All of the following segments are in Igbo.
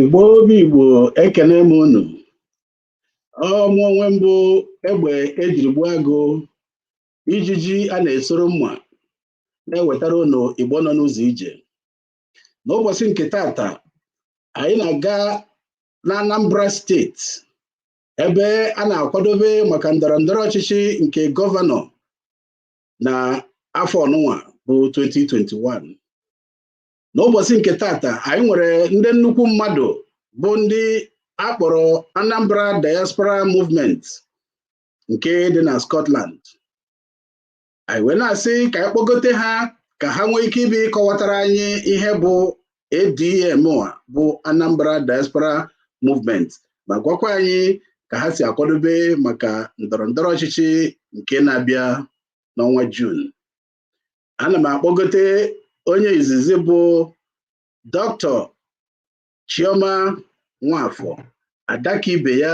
Igbo bụ Igbo ekenee m unu ọ mụ onwe m bụ egbe ejiri gbuo agụ ijiji a na-esoro mma na-ewetara unu Igbo nọ n'ụzọ ije n'ụbọsị nke taata anyị na-aga na Anambra steeti ebe a na-akwadobe maka ndọrọ ndọrọ ọchịchị nke gọvanọ na afọ nụnwa bụ 2021 n'ụbọsị nke taata anyị nwere ndị nnukwu mmadụ bụ ndị a kpọrọ Anambra Diaspora Movement nke dị na Scotland anyị wee na-asị ka anyị kpọgote ha ka ha nwee ike ịbịa kọwatara anyị ihe bụ ADM bụ Anambra Diaspora Movement ma gwakwa anyị ka ha si akwadobe maka ndọrọ ndọrọ ọchịchị nke na-abịa n'ọnwa Jun ana m akpọgote onye izizi bụ Dr. Chioma Nwafọ ada ka ibe ya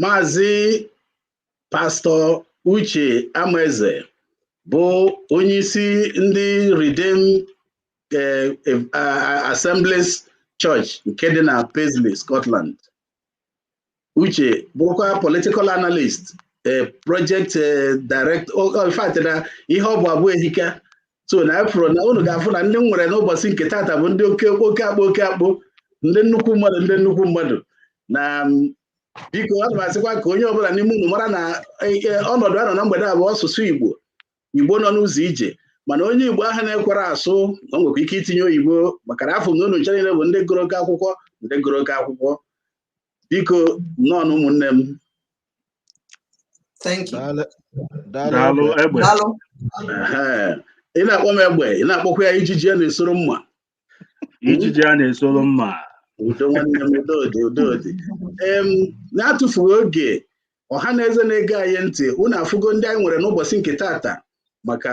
Maazị Pastọ Uche Amaeze bụ onyeisi ndị Redeemed eh, eh, ah, Assemblies Church nke dị na Paisley, Scotland. Uche bụkwa political analyst, eh, project eh, director, oh, oh, in fact, na ihe ọ bụ abụ ehika so na afụrụ m na unu ga-afụ na ndị nwere n'ụbọsị nke taata bụ ndị oke oke akpụ oke akpụ ndị nnukwu mmadụ ndị nnukwu mmadụ na biko ana m asịkwa ka onye ọbụla n'ime unu mara na e, e, ọnọdụ a nọ na mgbede a bụ ọsụsụ Igbo Igbo nọ n'ụzọ ije mana onye Igbo ahụ na-ekwerọ asụ ọ nwekwa ike itinye oyibo maka na afụ m na unu ncha niile bụ ndị gụrụ oke akwụkwọ ndị gụrụ oke akwụkwọ biko nnọọ nụ ụmụnne m Thank you. Daalụ. Daalụ. Daalụ Egbe. egbe Daalụ. Ehe. ị na-akpọ m egbe ị na-akpọkwa ya ijiji a na-esoro mma ijiji a na-esoro mma udo nwanne m udo dị udo dị em na-atụfughị oge ọha na eze na-ege anyị ntị unu afụgo ndị anyị nwere n'ụbọsị nke taata maka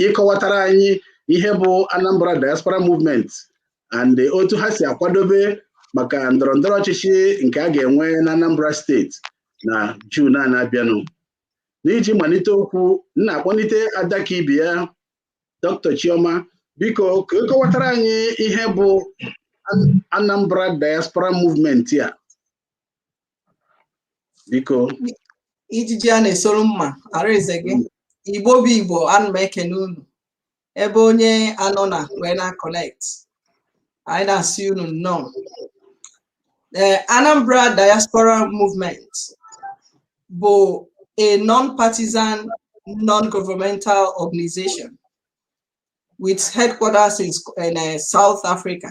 ịkọwatara anyị ihe bụ Anambra Diaspora Movement and otu ha si akwadobe maka ndọrọ ndọrọ ọchịchị nke a ga-enwe na Anambra steeti na Jun a na-abịanụ n'iji malite okwu m na-akpọlite ada ka ibe ya Dr. Chioma biko ka ịkọwatara anyị ihe bụ Anambra Diaspora Movement a biko ijiji a na-esoro mma araeze gị igbo bụ igbo ana m ekene unu ebe onye anọ na wee na-connect anyị na-asị unu nnọọ ee anambra diaspora movement bụ a non-partisan non-governmental organization with headquarters in, in uh, south africa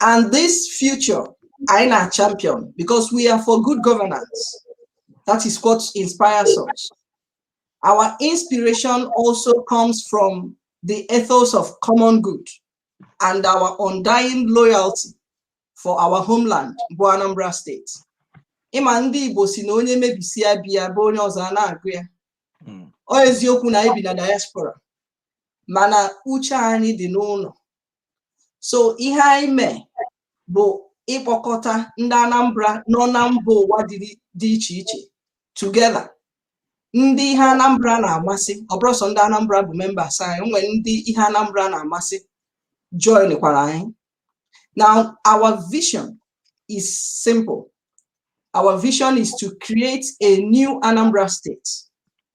and this future anyị na champion because we are for good governance that is what inspires us our inspiration also comes from the ethos of common good and our undying loyalty for our homeland bụ Anambra state ị ma ndị Igbo si na onye mebisịa be ya be onye ọzọ a na-agụ ya hmm. ọ eziokwu na anyị bi na diaspora mana uche anyị dị n'ụlọ so ihe anyị mee bụ ịkpọkọta ndị Anambra nọ na mba ụwa dị iche iche together ndị ihe Anambra na-amasị ọ bụrọ sọ ndị Anambra bụ members anyị nwere ndị ihe Anambra na-amasị join kwara anyị now our vision is simple our vision is to create a new Anambra state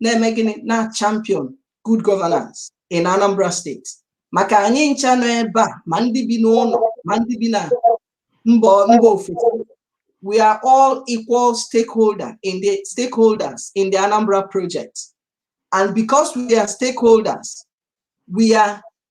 na-eme gịnị na champion good governance in Anambra state maka anyị ncha nọ ebe a ma ndị bi n'ụlọ ma ndị bi na mba mba ofesi we are all equal stakeholder in the stakeholders in the Anambra project and because we are stakeholders we are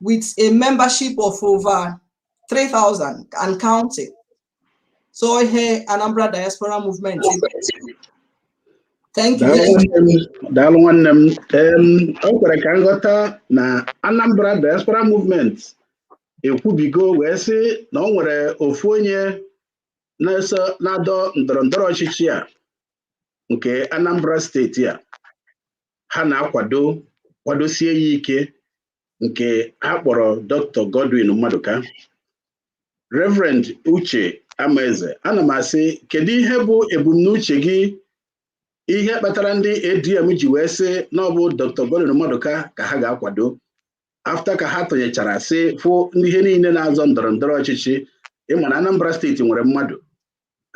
with a membership of over 3,000 and counting. So here, Anambra Diaspora Movement. Thank you. Daalụ nwanne m. Em, O kwere ka m ghọta na Anambra Diaspora Movement ekwubigo wee sị na o nwere ofu onye na-eso na-adọ ndọrọ ndọrọ ọchịchị a nke Anambra steeti a ha na-akwado kwadosie ya ike nke ha kpọrọ Dr. Godwin Maduka Reverend Uche Amaeze ana m asị kedu ihe bụ ebumnuche gị ihe kpatara ndị ADM ji wee sị na ọ bụ Dr. Godwin Maduka ka ha ga-akwado after ka ha tụnyechara sị fụ ndị niile na-azọ ndọrọ ndọrọ ọchịchị ị ma na Anambra steeti nwere mmadụ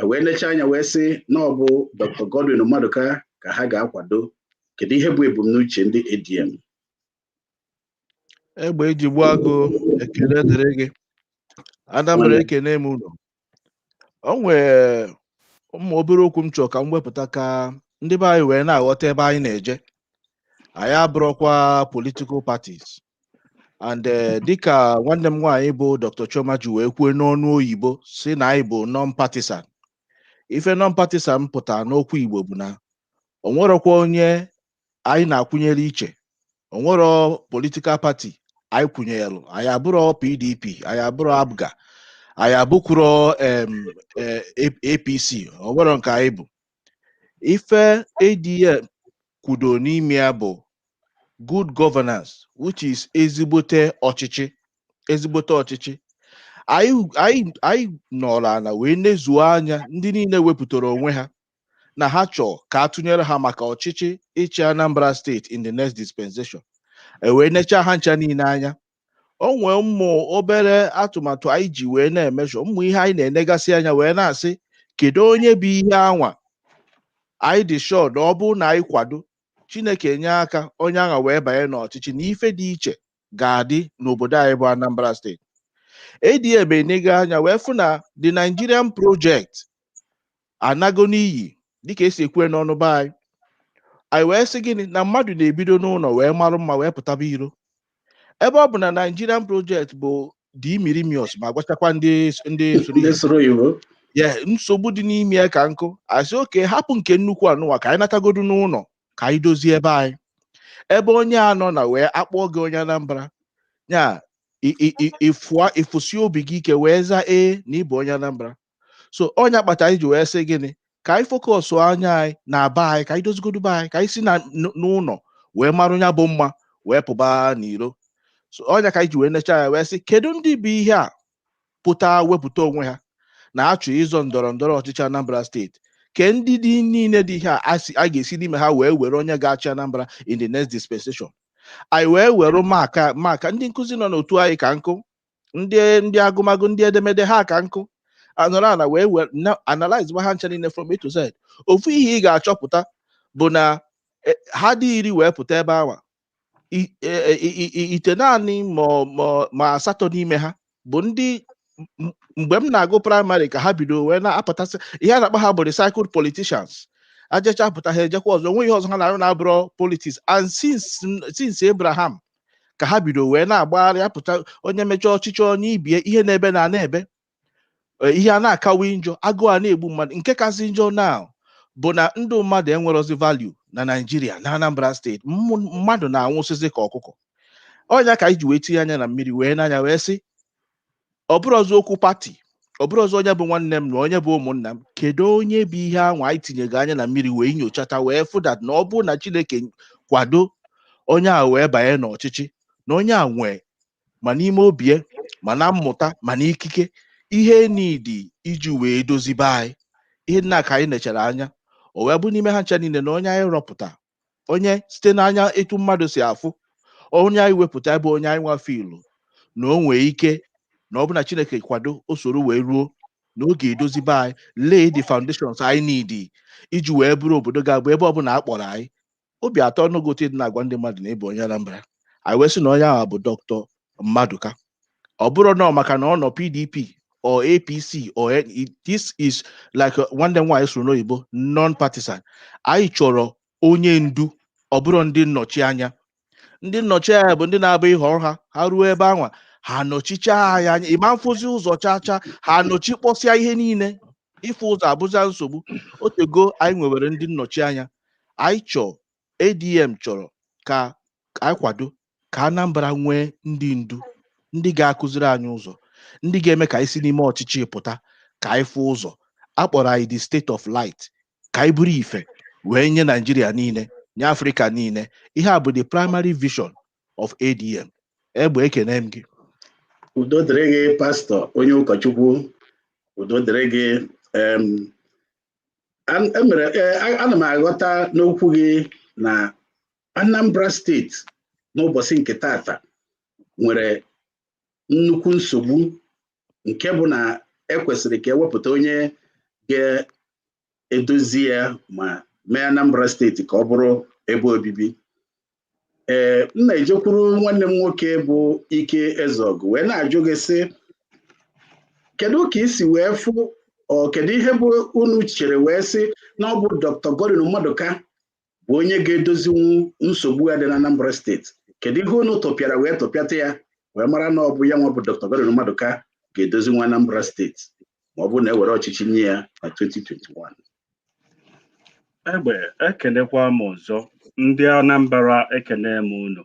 wee lechaa anya wee sị na ọ bụ Dr. Godwin Maduka ka ha ga-akwado kedu ihe bụ ebumnuche ndị ADM egbe e ji gbuo agụ ekele dịrị gị anambra ekene m ụlọ o nwee ụmụ obere okwu m chọrọ ka m wepụta ka ndị be anyị wee na-aghọta ebe anyị na-eje anyị abụrọkwa political parties and eh, dịka nwanne m nwaanyị bụ Dr. Chioma ji wee kwuo n'ọnụ oyibo sị na anyị bụ non-partisan ife non-partisan pụta n'okwu Igbo bụ na o nwerọkwa onye anyị na-akwụnyere iche o nwerọ political party anyị kwụnyelụ anyị abụrọ PDP anyị abụrọ APGA anyị abụkwuro em, eh, A- APC o nwerọ nke anyị bụ ife ADM kwụdo n'ime ya bụ good governance which is ezigbote ọchịchị ezigbote ọchịchị anyị anyị anyị nọrọ ana wee nezuo anya ndị niile wepụtara onwe ha na ha chọọ ka a tụnyere ha maka ọchịchị ịchị Anambra steeti in the next dispensation e wee nechaa ha ncha niile anya o nwee ụmụ obere atụmatụ anyị ji wee na-emeasure ụmụ ihe anyị na-enegasị anya wee na-asị kedu onye bụ ihe anwa anyị dị sure na ọ bụrụ na anyị kwado Chineke nye aka onye anwa wee banye n'ọchịchị na ife dị iche ga-adị n'obodo anyị bụ Anambra steeti ADM enego anya wee fụ na the nigerian project anago n'iyi dịka e si ekwu ya n'ọnụ be anyị anyị wee sị gịnị na mmadụ na-ebido n'ụlọ wee marụ mma wee pụtaba iro ebe ọ bụ na Nigerian project bụdị imirimious ma gwachakwa ndị ndị soro ndị soro iwu ya nsogbu dị n'ime ya ka nkụ a sị okay hapụ nke nnukwu anụwa ka anyị natagodu n'ụlọ ka anyị dozie ebe anyị ebe onye a nọ na wee akpọọ gị onye Anambra ya ị- ị- ị- ịfụa ịfụsi obi gị ike wee zaa ee na ị bụ onye Anambra so ọ nya kpata anyị ji wee sị gịnị ka anyị focus anya anyị na be anyị ka anyị dozigodu be anyị ka anyị si na n- n'ụlọ wee marụ ya bụ mma wee pụba n'iro so ọ nya ka anyị ji wee necha ya wee sị kedu ndị bụ ihe a pụta wepụta onwe ha na-achọ ịzọ ndọrọ ndọrọ ọchịchị Anambra steeti candidate niile dị ihe a a si- a ga-esi n'ime ha wee were onye ga-achị Anambra in the next dispensation anyị wee were maka maka ndị nkụzi nọ n'otu anyị ka nkụ ndị ndị agụmagụ ndị edemede ha ka nkụ a nọrọ ana wee were na- analyze ma ha ncha niile from A to Z ofu ihe ị ga-achọpụta bụ na eh, ha dị iri wee pụta ebe awa I- eh, i- i- i- itenaanị ma ọ- ma ọ- ma asatọ n'ime ha bụ ndị m- m- mgbe m na-agụ praịmarị ka ha bido wee na-apụtasị ihe a na-akpọ ha bụ recycled politicians ha jecha pụta ha ejekwa ọzọ o nwerọ ihe ọzọ ha na-arụ na-abụrọ politics and since since Abraham ka ha bido wee na-agbagharị apụta onye mechaa ọchịchị o nye ibe ya ihe na-ebe na na-ebe e, ihe a na-akawa njọ agụụ a na-egbu mmadụ nke kasị njọ na bụ na ndụ mmadụ enwerọzi value na Naịjirịa na Anambra steeti mmadụ na-anwụsịzi ka ọkụkọ ọ nya ka anyị ji wee tinye anya na mmiri wee nee anya wee sị ọ bụrọzị okwu pati ọ bụrọzị onye bụ nwanne m na onye bụ ụmụnna m kedu onye bụ ihe anwa anyị tinyego anya na mmiri wee nyochata wee fụ that na ọ bụ na chineke kwado onye a wee banye n'ọchịchị na onye a nwee ma n'ime obie ma na mmụta ma na ikike ihe need iji wee dozi be anyị ihe ndị a ka anyị nechara anya o wee bụ n'ime ha ncha niile na onye anyị rọpụta onye site n'anya etu mmadụ si afụ onye anyị wepụta bụ onye anyị nwa feel na o nwee ike na ọ bụ na chineke kwado o soro wee ruo na ọ ga-edozi be anyị lay the foundations anyị need iji wee bụrụ obodo ga-abụ ebe ọbụla a kpọrọ anyị obi atọọnụ gị ụtọ ịdị na-agwa ndị mmadụ na ị bụ onye anambra anyị wee sị na onye ahụ bụ dọkịta mmadụka ọ bụrọ na maka na ọ nọ pdp or apc or this is like uh, nwanne m nwaanyị sụrụ n'oyibo non partisan anyị chọrọ onye ndu ọ bụrọ ndị nnọchi anya ndị nnọchi anya bụ ndị na-abụ ị họrọ ha ha ruo ebe anwa ha nọchicha anyị anya ị ma na-afụzi ụzọ chaa chaa ha nọchikpọsịa ihe niile ịfụ ụzọ abụzia nsogbu otego anyị nwewere ndị nnọchi anya anyị chọọ ADM chọrọ ka anyị kwado ka Anambra nwee ndị ndu ndị ga-akụziri anyị ụzọ ndị ga-eme ka anyị si n'ime ọchịchị pụta ka anyị fụ ụzọ a kpọrọ anyị the state of light ka anyị bụrụ ife wee nye Naijiria niile nye Afrịka niile ihe a bụ the primary vision of ADM egbe ekene m gị udo dịrị gị pastọ onye ụkọchukwu udo dịrị gị emere e e, ana m aghọta n'okwu gị na Anambra steeti n'ụbọsị nke tata nwere nnukwu nsogbu nke bụ na ekwesịrị ka e wepụta onye ga-edozi ya ma mee Anambra steeti ka ọ bụrụ ebe obibi ee m na-ejekwuru nwanne m nwoke bụ ike ezeọgụ wee na-ajụ gị sị kedu ka i si wee fụ ọ kedu ihe bụ unu chere wee sị na ọ bụ Dr. Godwin Mmadụka bụ onye ga-edozinwu nsogbu a dị na Anambra steeti kedu ihe unu tụpịara wee tụpịata ya wee mara na ọ bụ ya nwa bụ Dr. Godwin Mmadụka ga-edozinwu Anambra steeti ma ọ bụ na e were ọchịchị nye ya na 2021 Egbe ekenekwa m ọzọ ndị Anambra ekene m unu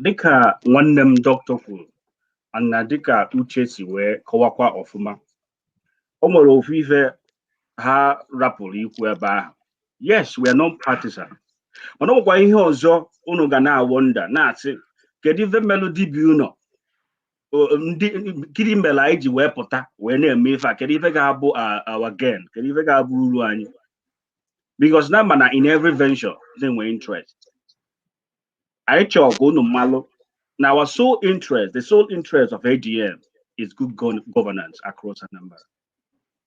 dịka nwanne m dọkịta kwulu na dịka uche si wee kọwakwa ọfụma o nwere ofu ife ha rapụlụ ikwu ebe ahụ yes we are non partisan mana o nwekwa ihe ọzọ unu ga na-awọnda na-asị kedu ife melụ dibịa ụnọ gịnị mere anyị ji wee pụta wee na-eme ife a kedu ife ga-abụ our gain kedu ife ga-abụ uru anyị because na a ma na in every venture na-enwe interest anyị chọọ ka unu mmalụ na our sole interest the sole interest of ADM is good governance across Anambra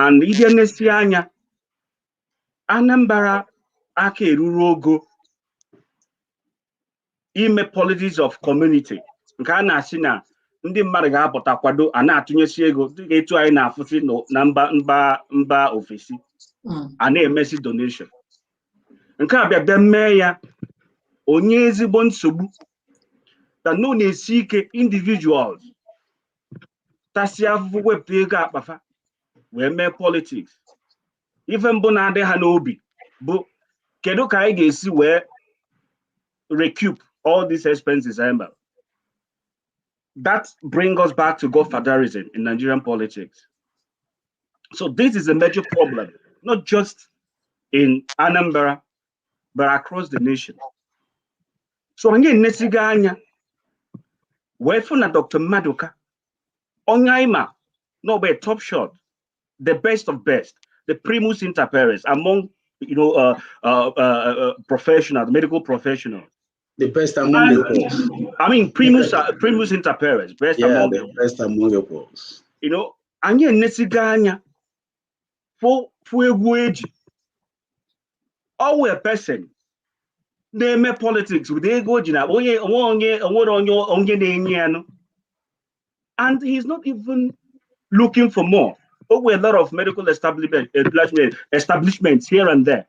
and i nenesia anya Anambra aka eruro ogo ime politics of community nke a na-asị na ndị mmadụ ga-apụta kwado a na-atụnyesi ego dịka etu anyị na-afụsị na mba ofesi a na-emesi donation nke a bịa mee ya o nye ezigbo nsogbu that na ọ na-esi ike individuals tasịa afụfụ wepụta ego akpa fa wee mee politics ife mbụ na-adị ha n'obi bụ kedu ka anyị ga-esi wee recoup all these expenses anyị mere that brings us back to godfatherism in Nigerian politics. So this is a major problem, not just in Anambra, but across the nation so anyị enesigo anya wee fụ na dr maduka onye anyị ma n'ọgba top shot the best of best the primus inter pares among you know uh, uh, uh, uh, professionals medical professionals the best among and, the I mean, primus, uh, primus inter pares, best yeah, among the best among the you know, anyị enesigo anya for ego eji ọwụ a person na-eme politics with ego o ji na onye na-enye ya nụ and he is not even looking for more o nwe a lot of medical establishments here and there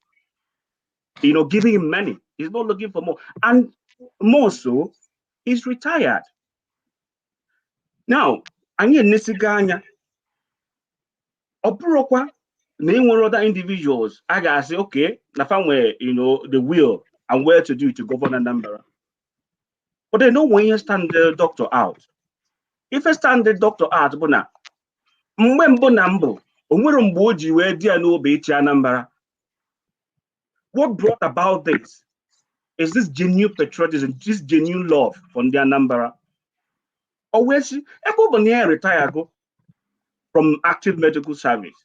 you know giving him money he's not looking for more and more so he's retired now anyị enesigo anya ọ bụrụkwa na e nwere other individuals a ga-asị okay na fa nwere you know the will and well to do to govern Anambra but then o nwe ihe stand the doctor out ife stand the doctor out bụ na mgbe mbụ na mbụ o nwerọ mgbe o ji wee dị ya n'obi ịchị Anambra What brought about this is this genuine patriotism, this genuine love for ndị Anambra. O wee sị ebe ọ bụ na ya retire go from active medical service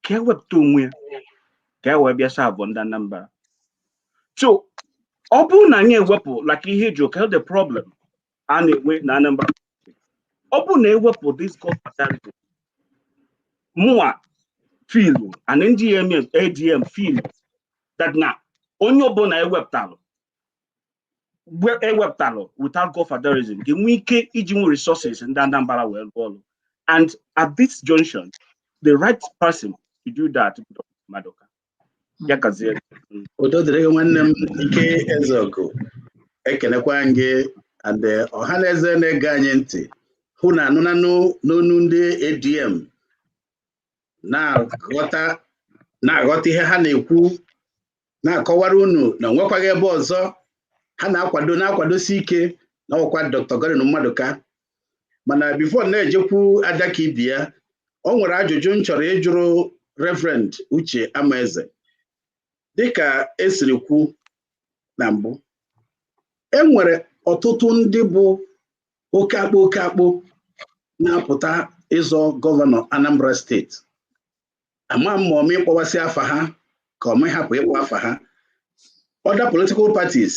ka ya wepụta onwe ya ka ya wee bịa serve ndị Anambra. So ọ bụrụ na anyị ewepụ like ihe ji ụka the problem a na-enwe na Anambra ọ bụrụ na ewepụ this godfatherism mụnwa feel and NDM ADM feel that na onye ọbụla ewepụtalụ ewepụtalụ without godfatherism ga-enwe ike ijinwu resources ndị Anambra wee rụọ ọrụ and at this junction the right person to do that Maduka ya gazie udo dịrị gị nwanne m Ike Ezeogu ekenekwa m gị and eh, ọha na eze na-ege anyị ntị unu anụnanụ n'ọnụ ndị ADM na-aghọta na-aghọta ihe ha na-ekwu na-akọwara unu na enwekwaghị ebe ọzọ ha na-akwado na-akwadosi ike na ọkwa Dr. Godwin Maduka mana before na-ejekwu ada ka ibi ya o nwere ajụjụ m chọrọ ịjụrụ reverend uche amaeze dịka e siri kwu na mbụ e nwere ọtụtụ ndị bụ oke akpụ oke akpụ na-apụta ịzọ gọvanọ anambra steeti ama m ma ọma ịkpọwasị afa ha ka ọma ịhapụ ịkpọ afa ha other political parties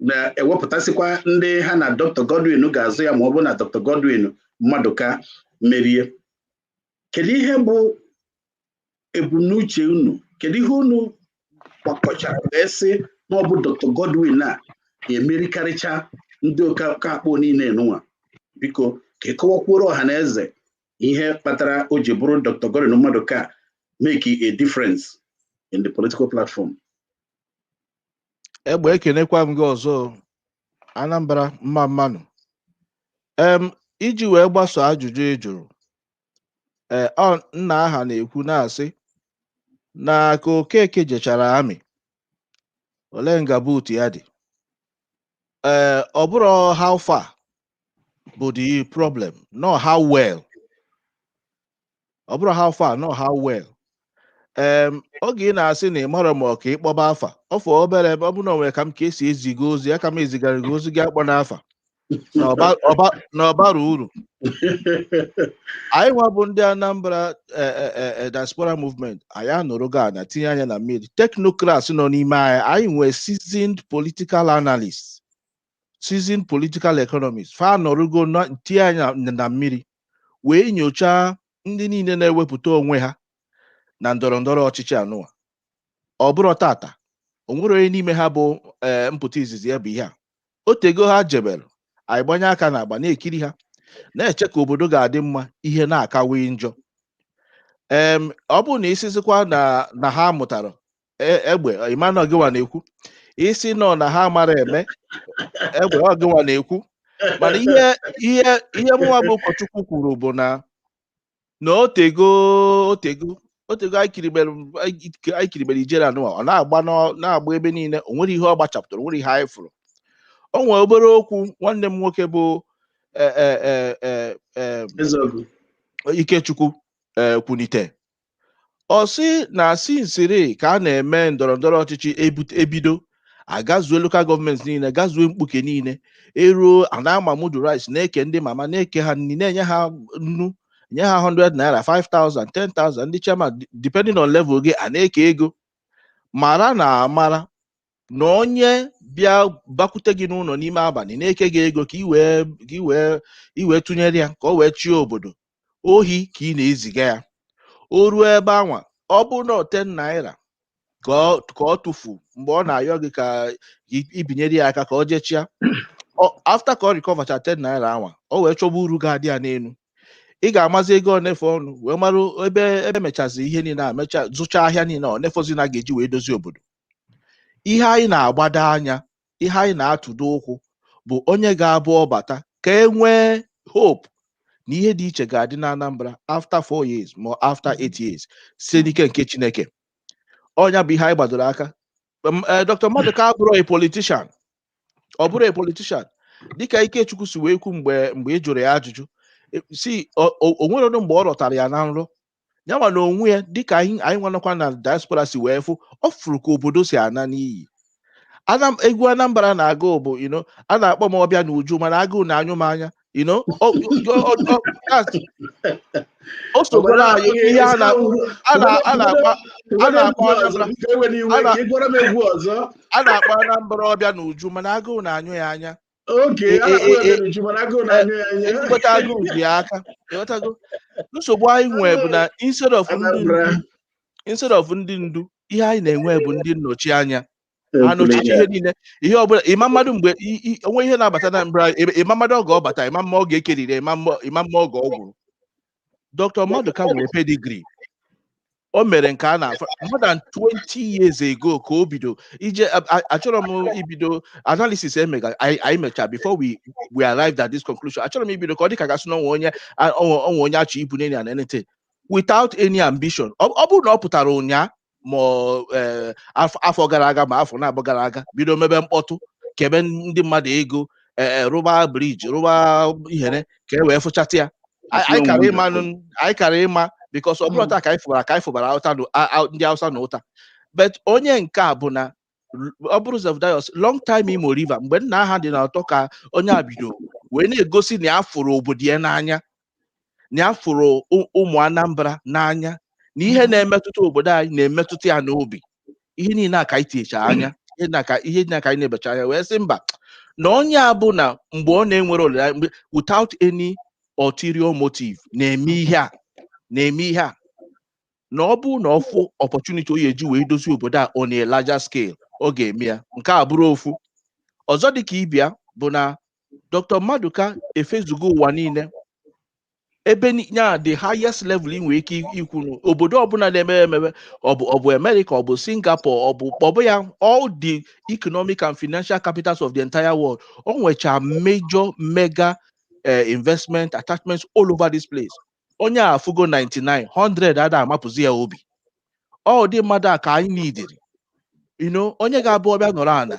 na-ewepụtasịkwa ndị ha na Dr. Godwin ga-azọ ya ma ọ bụ na Dr. Godwin Maduka merie kedu ihe bụ ebumnuche unu kedu ihe unu gbakọchara wee sị na ọ bụ Dr. Godwin ga-emerikarịcha ndị oke akpụ niile nụwa biko ka ị kọwakwuoro ọha na eze ihe kpatara o ji bụrụ Dr. Godwin Maduka make a difference in the political platform egbe ekenekwa m gị ọzọ Anambra mma mma nụ em iji wee gbaso ajụjụ ị jụrụ ee ọ nna aha na-ekwu na-asị na ka Okeke jechara army olee nga boot ya dị ee ọ bụrọ how far bụ the problem na ọ how well ọ bụrọ how far na ọ how well em oge ị na-asị na ị marọ ma ọ ka ịkpọba afa ọ fọ obere ebe ọ bụ na o nwere ka m ka esi eziga ozi a ka m ezigara gị ozi gị akpọna afa na ọba- ọba- na ọ barọ uru anyị nwa bụ ndị Anambra eh, eh, eh, eh, diaspora movement anyị anọrụgo ana tinye anya na mmiri technocrats nọ n'ime anyị anyị nwee seasoned political analyst seasoned political economist fa anọrụgo ana tinye anya na- na mmiri wee nyochaa ndị niile na-ewepụta onwe ha na ndọrọ ndọrọ ọchịchị anụwa ọ bụrọ taata o nwerọ onye n'ime ha bụ ee mpụta izizi ya bụ ihe a o teego ha jebere anyị gbanye aka n'agba na-ekiri ha na-eche ka obodo ga-adị mma ihe na-akawe njọ em ọ bụrụ na ị sizikwa na na ha mụtara e- egbe ị ma na ọ gịwa na-ekwu ị sị nọ na ha mara eme egbe ọ gịwa na-ekwu mana ihe ihe ihe mụnwa bụ ụkọchukwu kwuru bụ na na o teego o teego o teego anyị kiribere anyị kiribere ijere anụwa ọ na-agba n'ọ- na-agba ebe niile o nwerọ ihe ọ gbachapụtara o nwerọ ihe anyị fụrụ o nwere obere okwu nwanne m nwoke bụ eh, eh, eh, eh, eh, Ezeogu. Ikechukwu eh, kwunite ọ sị na sinsiri ka a na-eme ndọrọ ndọrọ ọchịchị e bido a gazuo local government niile gazuo mkpuke niile e ruo a na-ama mudu rice na-eke ndị mama na-eke ha nri na-enye ha nnu nye ha 100 naira 5000 10000 ndị chairman depending on level gị a na-eke ego mara na amara na onye bịa bakwute gị n'ụlọ n'ime abalị na-eke gị ego ka i wee tụnyere ya ka o wee chie obodo ohi ka ị na-eziga ya o ruo ebe anwa ọ bụ na ten naira ka ọ ka ọ tụfu mgbe ọ na-ayọ gị ka i- i binyere ya aka ka ọ jee chịa Ọ- after ka ọ recovercha ten naira anwa o wee chọba uru ga-adị ya n'elu ị ga-amazi ego one fọnụ wee mara ebe e mechazi ihe niile a mecha zụcha ahịa niile one fọzi na a ga-eji wee dozie obodo ihe anyị na-agbado anya ihe anyị na-atụdo ụkwụ bụ onye ga-abụ ọ bata ka e nwee hope na ihe dị iche ga-adị na Anambra after four years ma after eight years site n'ike nke Chineke ọ nya bụ ihe anyị gbadoro aka M- eh, Dr. Maduka abụrọ a politician ọ bụrọ a politician dịka Ikechukwu si wee kwu mgbe mgbe ị jụrụ ya ajụjụ eh, si o o- o nwerọdụ mgbe ọ rọtara ya na nrọ ya nwa na onwe ya dịka anyị anyị nwa nọkwa na diaspora si wee fụ ọ fụrụ ka obodo si ana n'iyi Anam, egwu Anambra na-agụ bụ you know, a na-akpọ m Ọbịanuju mana agụụ na-anyụ m anya you know, ọ- ọ- ọ- ọ- that's- o sogoro anyị ihe a na- a na- a na-akpa a na-akpọ Anambra. ewe n'iwe A na- ka ị gwara m egwu ọzọ a na-akpọ Anambra Ọbịanuju mana agụụ na-anyụ ya anya oke E- a e- na-akpọ e- e- ebere uju mana agụụ na-anyụ ya anya ezigbote agụụ dị ya aka ịghọtago nsogbu anyị nwee bụ na instead of ndị ndu Anambra. instead of ndị ndu ihe anyị na-enwe bụ ndị nnọchi anya ha nọchite ihe niile ihe ọbụla ịma mmadụ mgbe i- i- o nwe ihe na-abata n'Anambra ịma mmadụ oge ọ bata ịma mma ọ ga-ekeriri ịma mma ịma mma oge ọ gwụrụ Dr. Maduka nwere pedigree o mere nke a na more than 20 years ago ka o bido ije achọrọ m ibido analysis emega anyị mecha before we we arrived at this conclusion achọrọ m ibido ka ọ dị ka a ga-asị na o nwe onye o nwe onye a chọ ibu n'enyi and anything without any ambition ọ bụrụ na ọ pụtara ụnyaa ma eh, afọ gara aga ma afọ naabọ gara aga bido mebe mkpọtụ kebe ndị mmadụ ego eh, eh, rụba bridge rụba ihere ka e wee fụchata ya anyị kara ịma because ọ bụrọ hmm. taa ka anyị fụbara ka anyị fụbara ndị Hausa na ụta but onye nke a bụ na ọ bụrụ Zevdayọs long time Imo River mgbe nna aha dị n'ọtọ ka onye a bido wee na-egosi na ya fụrụ obodo ya n'anya na ya fụrụ ụ- ụmụ Anambra n'anya na ihe na-emetụta obodo anyị na-emetụta ya n'obi ihe niile a ka anyị tinyecha anya ihe na ka ihe niile a ka anyị nebecha anya wee sị mba na onye a bụ na mgbe ọ na-enwerọ olileanya mgbe without any ulterior motive na-eme ihe a na-eme ihe a na ọ bụrụ na ọ fụ opportunity ọ ya-eji wee dozie obodo a on a larger scale ọ ga-eme ya nke a bụrụ ofu ọzọ dị ka ibe ya bụ na Dr. Maduka efezugo ụwa niile ebe ni- ya the highest level ị nwere ike i- ikwu na obodo ọbụla na-emepe emepe ọ bụ ọ bụ America ọ bụ Singapore ọ bụ ọ bụ ya all the economic and financial capitals of the entire world o nwecha major mega eh, investment attachments all over this place onye a fugo 99 100 ada amapụzi ya obi ọ ụdị mmadụ a ka anyị nidiri ino onye ga-abụ ọ bịa nọrọ ana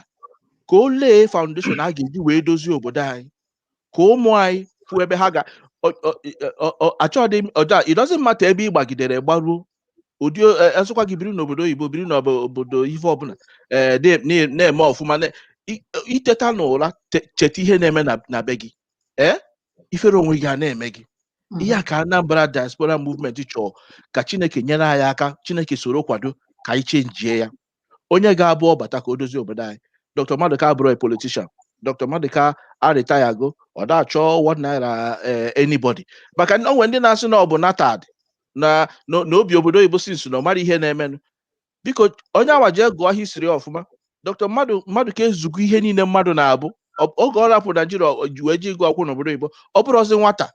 ka ọ lay foundation a ga-eji wee dozie obodo anyị ka ụmụ anyị fụ ebe ha ga achọghị m ọja it doesn't matter ebe ị gbagidere gbaruo ụdị esụkwa gị biri n'obodo oyibo biri n'obodo ife ọbụla eh, na-eme ọfụma i teta n'ụra cheta ihe na-eme na be gị ee eh? ifere onwe gị a na-eme gị ihe a ka Anambra diaspora movement chọọ ka Chineke nyere anyị aka Chineke soro kwado ka anyị chenjie ya onye ga-abụ ọ bata ka o dozie obodo anyị Dr. Maduka abụrọ a politician Dr. Maduka arịtayago ọ da-achọ one naira eh, anybody maka na o nwe ndị na-asị na ọ bụ natad na na na o bi obodo oyibo since na ọ marọ ihe na-emenụ biko onye awa jee gụọ history ọfụma Dr. Maduka ezugo ihe niile mmadụ na-abụ Ọ- oge ọ rapụ naijiria ọ- ji- wee je ịgụ akwụkwọ n'obodo oyibo ọ bụrọzị nwata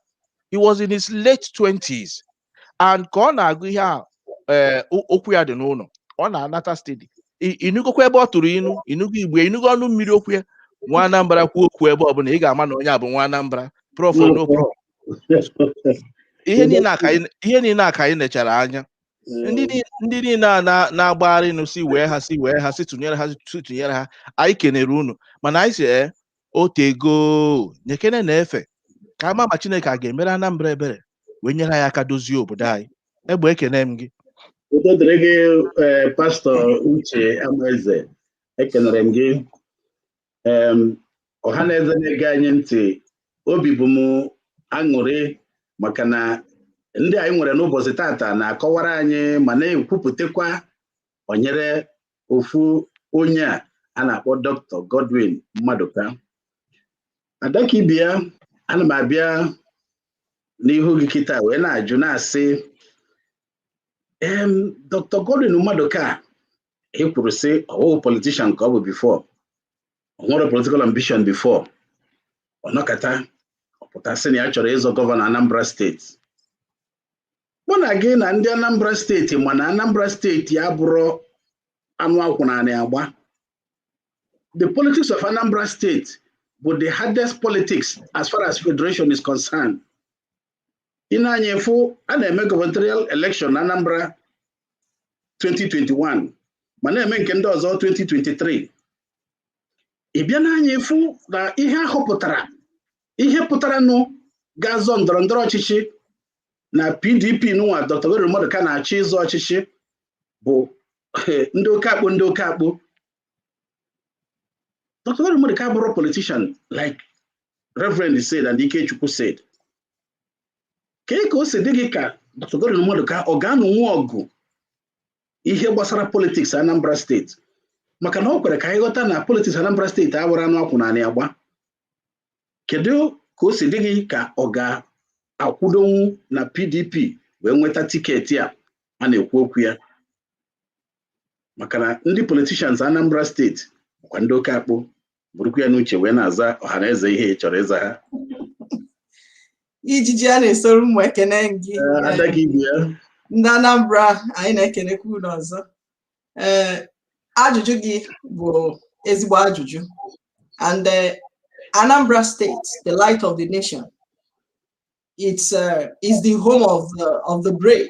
he was in his late 20s and ka ọ na-agụ ihe a ee, o- ụkwụ ya dị n'ụlọ ọ na-anata steady ị nụgokwa ebe ọ tụrụ inu ị nụgo Igbo ị nụgo ọnụ mmiri okwu ya nwa anambra kwuo okwu ebe ọbụla ị ga-ama na onye a bụ nwa anambra prof no prof ihe niile a ka anyị ihe niile a ka anyị nechara anya ndị niile- ndị niile a na- na-agbagharị nụ sị wee ha sị wee ha sị tụnyere ha sị tụnyere ha anyị kenere unu mana anyị sị ee o tego nyekenenụ efe ka a ma ma chineke a ga-emere anambra ebere wee nyere anyị aka dozie obodo anyị egbe ekene m gị udo dịrị gị ee, pastọ uche amaeze ekenere m gị ọha na eze na-ege anyị ntị obi bụ m aṅụrị maka na ndị anyị nwere n'ụbọchị tata na-akọwara anyị ma na-ekwupụtakwa banyere ofu onye a a na-akpọ Dr. Godwin Maduka Adakaibeya ana m abịa n'ihu gị kịta wee na-ajụ na-asị em Dr. Godwin Maduka e kwuru sị ọ wụghị politishan ka ọ bụ bifọ ọ nwere politikal ambishọn bifọ ọ nọkata ọ pụta sị na ya chọrọ ịzọ gọvanọ anambra steeti mụ na gị na ndị anambra steeti ma na anambra steeti abụrọ anụ a kwụ n'anị agba the politics of anambra steeti bụ the hardest politics as far as federation is concerned ị nee anya ị fụ a na-eme gubernatorial election na Anambra 2021 ma na-eme nke ndị ọzọ 2023 ị bịa nee anya ị fụ na ihe a họpụtara ihe pụtaranụ ga-azọ ndọrọ ndọrọ ọchịchị na PDP nụwa Dr. Godwin Maduka na-achọ ịzọ ọchịchị bụ ndị oke akpụ ndị oke akpụ Dr. Godwin Maduka abụrọ politician like Reverend said and Ikechukwu said kee ka o si dị gị ka Dr. Godwin Maduka ọ ga-anụnwu ọgụ ihe gbasara politiks Anambra steeti maka na ọ kwere ka anyị ghọta na politiks Anambra steeti abụrọ anụ a kwụ n'anị agba kedu ka o si dị gị ka ọ ga-akwụdonwu na PDP wee nweta tiketi a a na-ekwu okwu ya maka na ndị politicians Anambra steeti ọkwa ndị oke akpụ burukwa ya n'uche wee na-aza ọha na eze ihe ị chọrọ ịza ha ijiji a na-esoro mụ ekene gị Ee, ada gị ibu ya ndị Anambra anyị na-ekenekwa unu ọzọ ee ajụjụ gị bụ ezigbo ajụjụ and eh, Anambra State the light of the nation it's uh, is the home of the, of the brave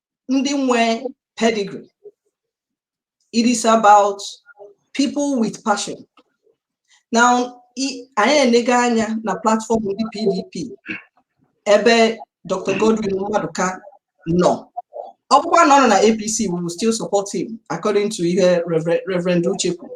ndị nwe pedigree it is about people with passion now anyị elega anya na platform ndị PDP ebe Dr. Godwin Maduka nọ ọ bụkwa na ọ nọ na APC we will still support him according to ihe Reverend Uche kwuru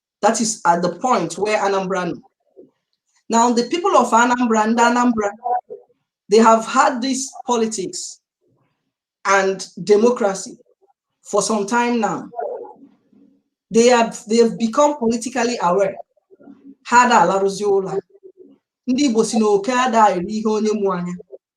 That is at the point where Anambra nọ. Now, the people of Anambra ndị Anambra, they have had this politics and democracy for some time now. They have they have become politically aware. Ha ada alarụzi ụla. Ndị Igbo si na oke ada eri ihe onye mụ anya.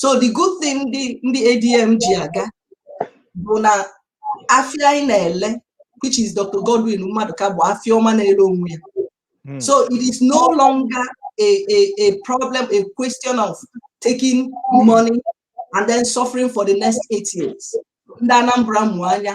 so the good thing ndị ndị ADM ji aga bụ na afịa anyị na-ele which is Dr. Godwin Maduka bụ afịa ọma na-ele onwe ya hmm. so it is no longer a, a, a problem a question of taking money and then suffering for the next eight years ndị Anambra mụ anya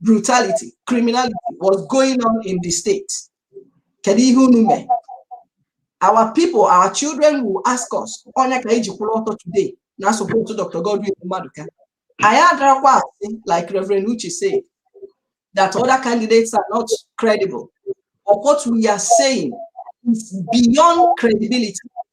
brutality criminality was going on in the state kedu ihe unu mee our people our children will ask us ọ ya ka anyị ji kwụrụ ọtọ today na-asupport Dr. Godwin Maduka anyị adarọkwa asị like Reverend Uche said that other candidates are not credible but what we are saying is beyond credibility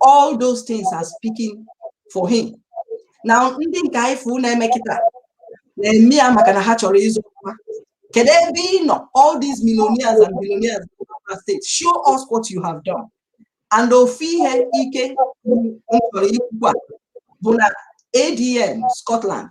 all those things are speaking for him na ndị nke anyị fụ na-eme kịta na-eme ya maka na ha chọrọ ịzọ ọkwa kedu ebe ị nọ all these millionaires and billionaires in our state show us what you have done and ofu ihe ike m chọrọ ikwu a bụ na adm scotland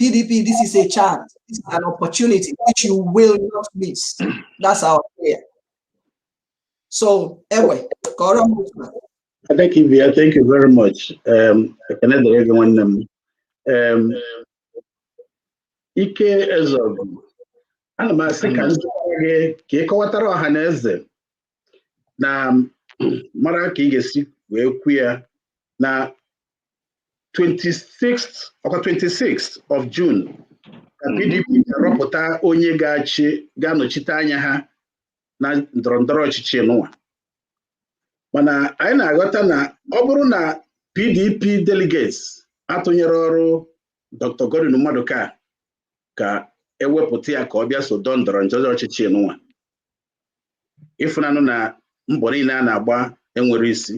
PDP, this is a chance, this is an opportunity which you will not miss. That's our prayer. So, anyway, I thank you, thank you very much. Um, ekene dịrị gị nwanne m, um, Ike Ezeogu, ana m asị ka ndị gị ka ị kọwatara ọha na eze na mara ka ị ga-esi wee kwu ya na 26th ọkwa 26th of June ka PDP hmm. ga-arọpụta onye ga-achị ga-anọchite anya ha na ndọrọ ndọrọ ọchịchị nụwa mana anyị na-aghọta na ọ bụrụ na PDP delegates atụnyerọrọ Dr. Godwin Maduka ka ewepụta ya ka ọ bịa so dọọ ndọrọ ndọrọ ọchịchị nụwa ịfụnanụ na mbọ niile a na-agba enwerọ isi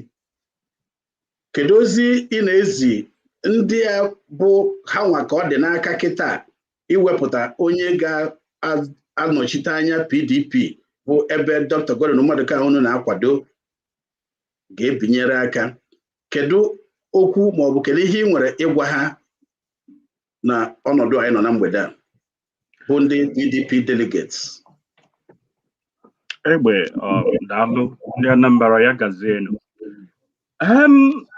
kedu ozi ị na-ezi ndị a bụ ha nwa ka ọ dị n'aka kịta iwepụta onye ga-anọchite anya PDP bụ ebe Dr. Godwin Maduka unu na-akwado ga-ebinyere aka kedu okwu maọbụ kedu ihe ị nwere ịgwa ha na ọnọdụ anyị nọ na mgbede a bụ ndị PDP delegates egbe daalụ ndị Anambra ya gazienu em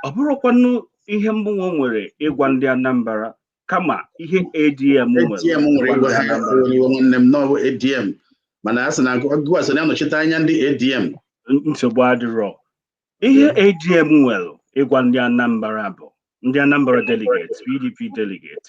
ọ bụrọkwanụ ihe mụnwa nwere ịgwa ndị Anambra kama ihe ADM ADM nwere ịgwa ha iwe nwanne m n'ọbụ ADM mana a sị na gụwa so na-anọchite anya ndị ADM nsogbu adịrọ ihe ADM nwere ịgwa ndị Anambra bụ ndị Anambra delegates PDP delegates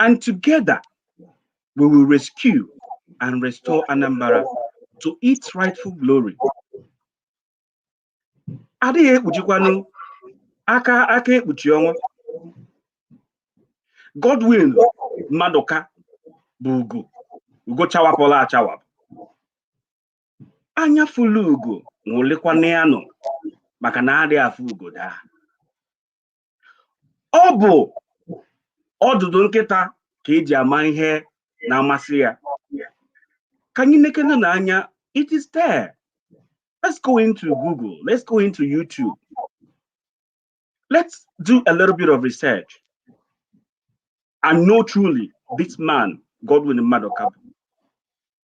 And together, we will rescue and restore Anambra to its rightful glory. Adịghị ekpuchikwanụ aka aka ekpuchi ọnwa. Godwin Maduka bụ ugo ugo chawapụla achawapụ. Anya fụlụ ugo nwụlịkwana ya nọ maka na adịghị afụ ugo daa. ọ bụ ọdụdụ nkịta ka eji ama ihe na-amasị ya ka anyị nekene na anya it is there let's go into google let's go into youtube let's do a little bit of research and know truly this man godwin maduka bụ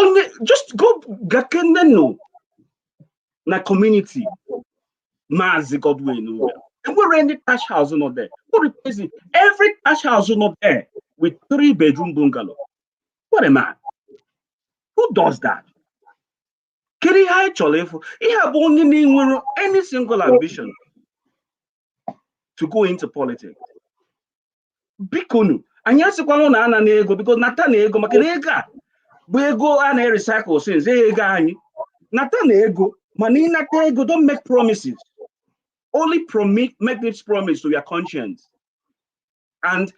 onye just go gakenenụ na community Maazị Godwin lee enwere any thatch house nọ there what replace it every thatch house nọ there with three bedroom bungalow what a man who does that kedu ihe anyị chọrọ ịfụ ihe a bụ onye na-enwere any single ambition to go into politics bikonu anyị asịkwanụ na anana ego because natanụ ego maka na ego a bụ ego a na-recycle since ọ ego anyị natanụ ego mana ịnata ego don't make promises only promi make this promise to your conscience and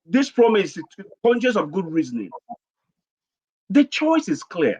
this promise is conscience of good reasoning the choice is clear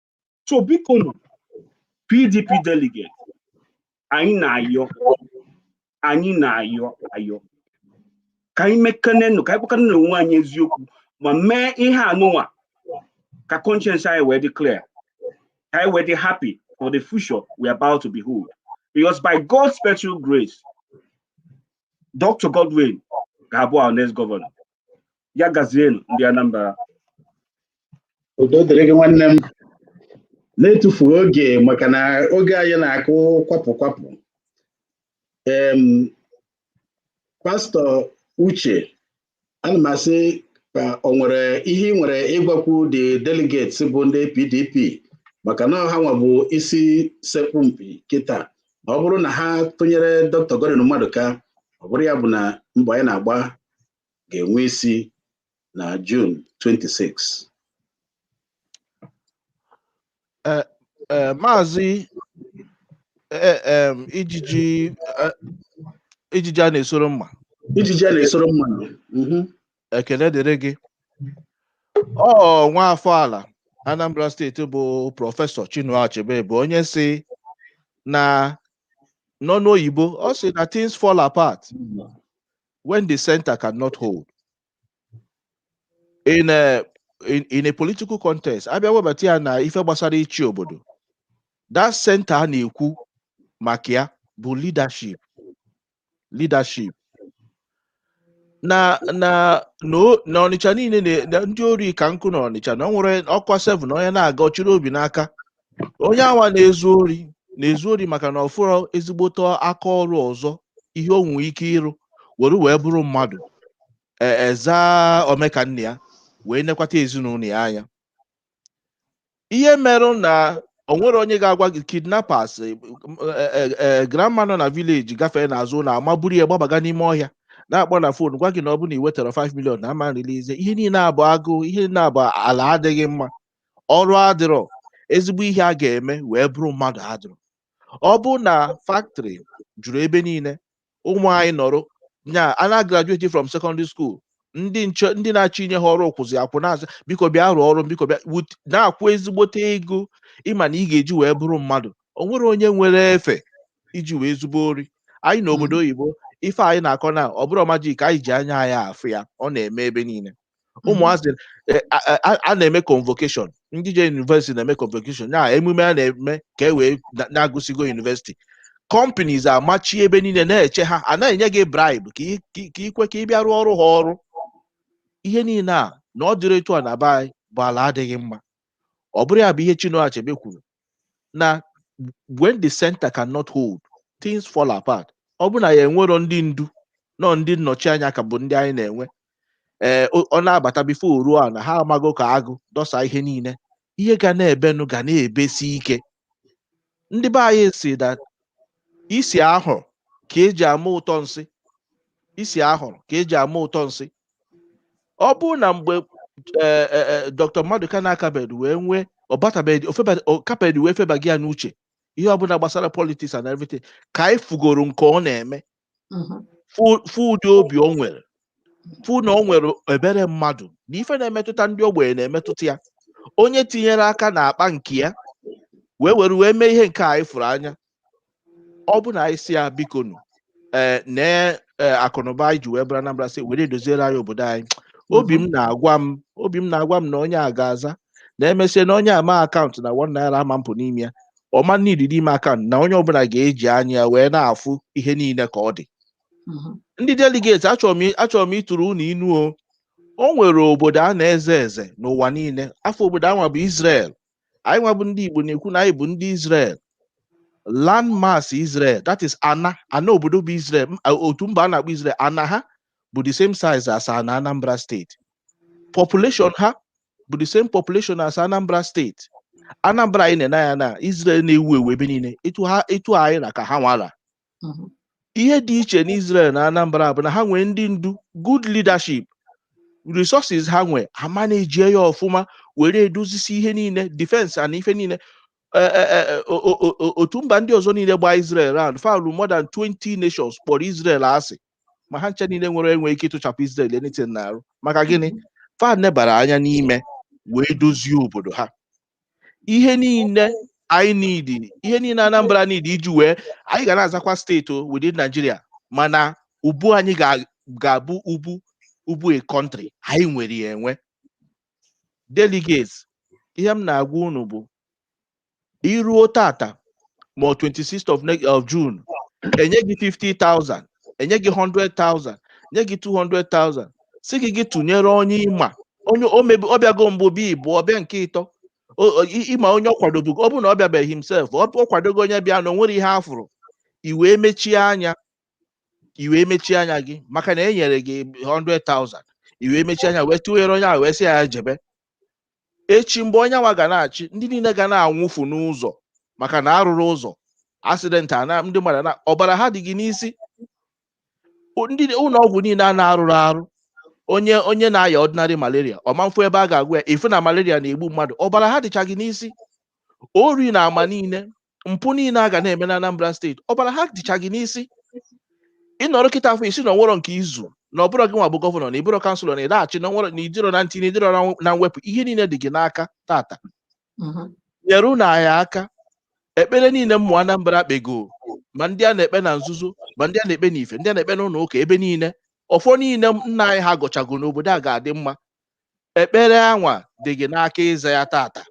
so bikonu pdp delegate anyị na-ayọ anyị na-ayọ ayọ ka anyị mekanenụ ka anyị gwakanenụ onwe anyị eziokwu ma mee ihe anụnwa ka conscience anyị wee dị clear ka anyị wee dị happy for the future we are about to behold because by God's special grace Dr. Godwin ga-abụ our next governor ya gazienu ndị Anambra udo dịrị gị nwanne m na-etufu oge maka na oge anyị na-akụ kwapụ kwapụ em pastọ uche ana m asị ka o nwere ihe ị nwere ịgwakwu the delegates bụ ndị pdp maka na ha nwa bụ isi sekpụ ntị kịta ọ bụrụ na ha tụnyere dr Godwin Maduka ọ bụrụ ya bụ na mbọ anyị na-agba ga-enwe isi na June 26 eh, eh, maazị eh, ijiji ijiji a na-esoro mma ijiji a na-esoro mma mhm. ekele dịrị gị ọ nwa afọ ala Anambra steeti bụ prọfesọ Chinua Achebe bụ onye sị na n'ọnụ oyibo ọ sị na things fall apart when the center cannot hold in a in, in a political context a bịa webata ya na ife gbasara ịchị obodo that center a na-ekwu maka ya bụ leadership leadership na na na o- na ọnịcha niile na- na ndị ori ka nkụ na ọnịcha na ọ bụrụ ọ kụọ 7 onye na-aga ọ chịrị obi n'aka onye anwa na-ezu ori na-ezu ori maka na ọ fụrọ ezigbote aka ọrụ ọzọ ihe o nwere ike ịrụ were wee bụrụ mmadụ e- eza omeka nna ya wee nekwata ezinụlọ ya anya ihe merụ na o nwere onye ga-agwa gị kidnappers eh, m- eh, eh, eh, grandma nọ na village gafee n'azụ ụlọ ama buru ya gbabaga n'ime ọhịa na-akpọ na fon gwa gị na ọ bụ na ị wetara 5 million na ama release ihe niile a bụ agụụ ihe niile a bụ ala adịghị mma ọrụ adịrọ ezigbo ihe a ga-eme wee bụrụ mmadụ adịrọ ọ bụrụ na factory juru ebe niile ụmụ anyị nọrọ nya a na-agraduate from secondary school ndị nche ndị na-achọ inye ha ọrụ kwụzi akwụ na-asị biko bịa rụọ ọrụ biko bịa wut- na-akwụ ezigbote ego ị ma na ị ga-eji wee bụrụ mmadụ o nwere onye nwere efe iji wee zube ori anyị nọ obodo oyibo ife anyị na-akọ na ọ bụrọ magic anyị ji anya anyị afụ ya ọ na-eme ebe niile ụmụazị e, a- a- a- a na-eme convocation ndị je university na-eme convocation na emume a na-eme ka e wee na- na agụsigo university companies amachi ebe niile na-eche ha a na-enye gị bribe ka ị- ka ị- ka i kwe ka ị bịa rụọrụ ha ọrụ ihe niile a na ọ dịrọ etu a na be anyị bụ ala adịghị mma ọ bụrụ ya bụ ihe Chinua Achebe kwuru na when the center cannot hold things fall apart ọ bụrụ na ya enwerọ ndị ndu nọ ndị nnọchi anya ka bụ ndị anyị na-enwe ee o- ọ na-abata before o ruo ana ha amago ka agụ dọsa ihe niile ihe ga na-ebenụ ga na-ebesi ike ndị be anyị si that is isi ahụrụ ka eji ama ụtọ nsị isi ahụrụ ka eji ama ụtọ nsị ọ bụrụ na mgbe eh, eh, eh, Dr. Maduka na-akabeghị wee nwee ọ batabeghị o feba- ọ kabeghị wee febaghị ya n'uche ihe ọbụla gbasara politics and everything ka anyị fugoro nke ọ na-eme Mhm. fụ fụ ụdị obi o nwere fụ na o nwere ebere mmadụ na ife na-emetụta ndị ogbenye na-emetụta ya onye tinyere aka n'akpa nke ya wee were wee mee ihe nke a anyị fụrụ anya ọ bụ na anyị sị ya bikonụ ee nee ee akụnụba anyị ji wee bụrụ Anambra sị were doziere anyị obodo anyị obi m na-agwa m obi m na-agwa m na onye a ga-aza na e mesịa na onye ama account na one naira ama apụ n'ime ya ọma niile n'ime account na onye ọbụla ga-eji anya ya wee na-afụ ihe niile ka ọ dị ndị delegate achọrọ m i- achọrọ m ịtụrụ unu inu o o nwere obodo a na-eze eze n'ụwa niile afa obodo anwa bụ Israel anyị nwa bụ ndị Igbo na-ekwu na anyị bụ ndị Israel land mass Israel that is ana ana obodo bụ Israel otu mba a na-akpọ Israel ana ha bụ the same size as ana Anambra steeti population ha bụ the same population as Anambra steeti Anambra anyị na-ene anya na Israel na-ewu ewu ebe niile etu ha etu anyị ra ka ha nwa ra mhm. ihe dị iche n'Israel na Anambra bụ na ha nwee ndị ndu good leadership resources ha nwee ha manejie ya ọfụma were edozisi ihe niile defense na ife niile e, e, e, otu mba ndị ọzọ niile gbaa Israel round falu more than 20 nations kpọrọ Israel asị ma ha ncha niile nwere enwe ike ịtụchapụ Israel anything n'arụ maka gịnị mhm. fa nebara anya n'ime wee dozie obodo ha ihe niile anyị need ihe niile Anambra need iji wee anyị ga na-azakwa steeti o within Nigeria mana ubu anyị ga- ga-abụ ubu ubu a country anyị nwere ya enwe delegates ihe m na-agwa unu bụ iruo tata ma 26th of next of June enye gị 50,000 enye gị 100,000 nye gị 200,000 sị gị gị tụnyere onye ị ma onye o mebi ọ bịago mbụ bịa ịbụọ bịa nke ịtọ O- o- i- ị ma onye ọ kwadobu ọ bụ na ọ bịabeghị himself ọ ọ kwadogo onye bịa na o nwerọ ihe a fụrụ i wee mechie anya i wee mechie anya gị maka na e nyere gị 100,000 i wee mechie anya wee tụnyere onye ahụ wee sị ya ya jebe echi mgbe onye nwa ga na-achị ndị niile ga na-anwụfu n'ụzọ maka na a rụrọ ụzọ asidenti ana ndị mmadụ na ọbara ha dị gị n'isi ndị ụlọ ọgwụ niile a na-arụrọ arụ onye onye na-aya ordinary malaria ọ ma-afụ ebe a ga-agwọ ya ị fụ na malaria na-egbu mmadụ ọbara ha dịcha gị n'isi ori na ama niile mpụ niile a ga na-eme na Anambra steeti ọbara ha dịcha gị n'isi ị nọrọ kịta afụ ị sị na o nwerọ nke izu na ọ bụrọ gị nwa bụ gọvanọ na ị bụrọ kanselọ na ị naghị achị na o nwerọ na ị dịrọ na ntinye ị dịrọ na mwepụ ihe niile dị gị n'aka tata mhm. nyerenụ anyị aka ekpere niile ụmụ Anambra kpego ma ndị a na-ekpe na nzuzo ma ndị a na-ekpe n'ife ndị a na-ekpe n'ụlọ ụka ebe niile ọfọ niile nna anyị ha gọchago na obodo a ga-adị mma ekpere anwa dị gị n'aka ịza ya tata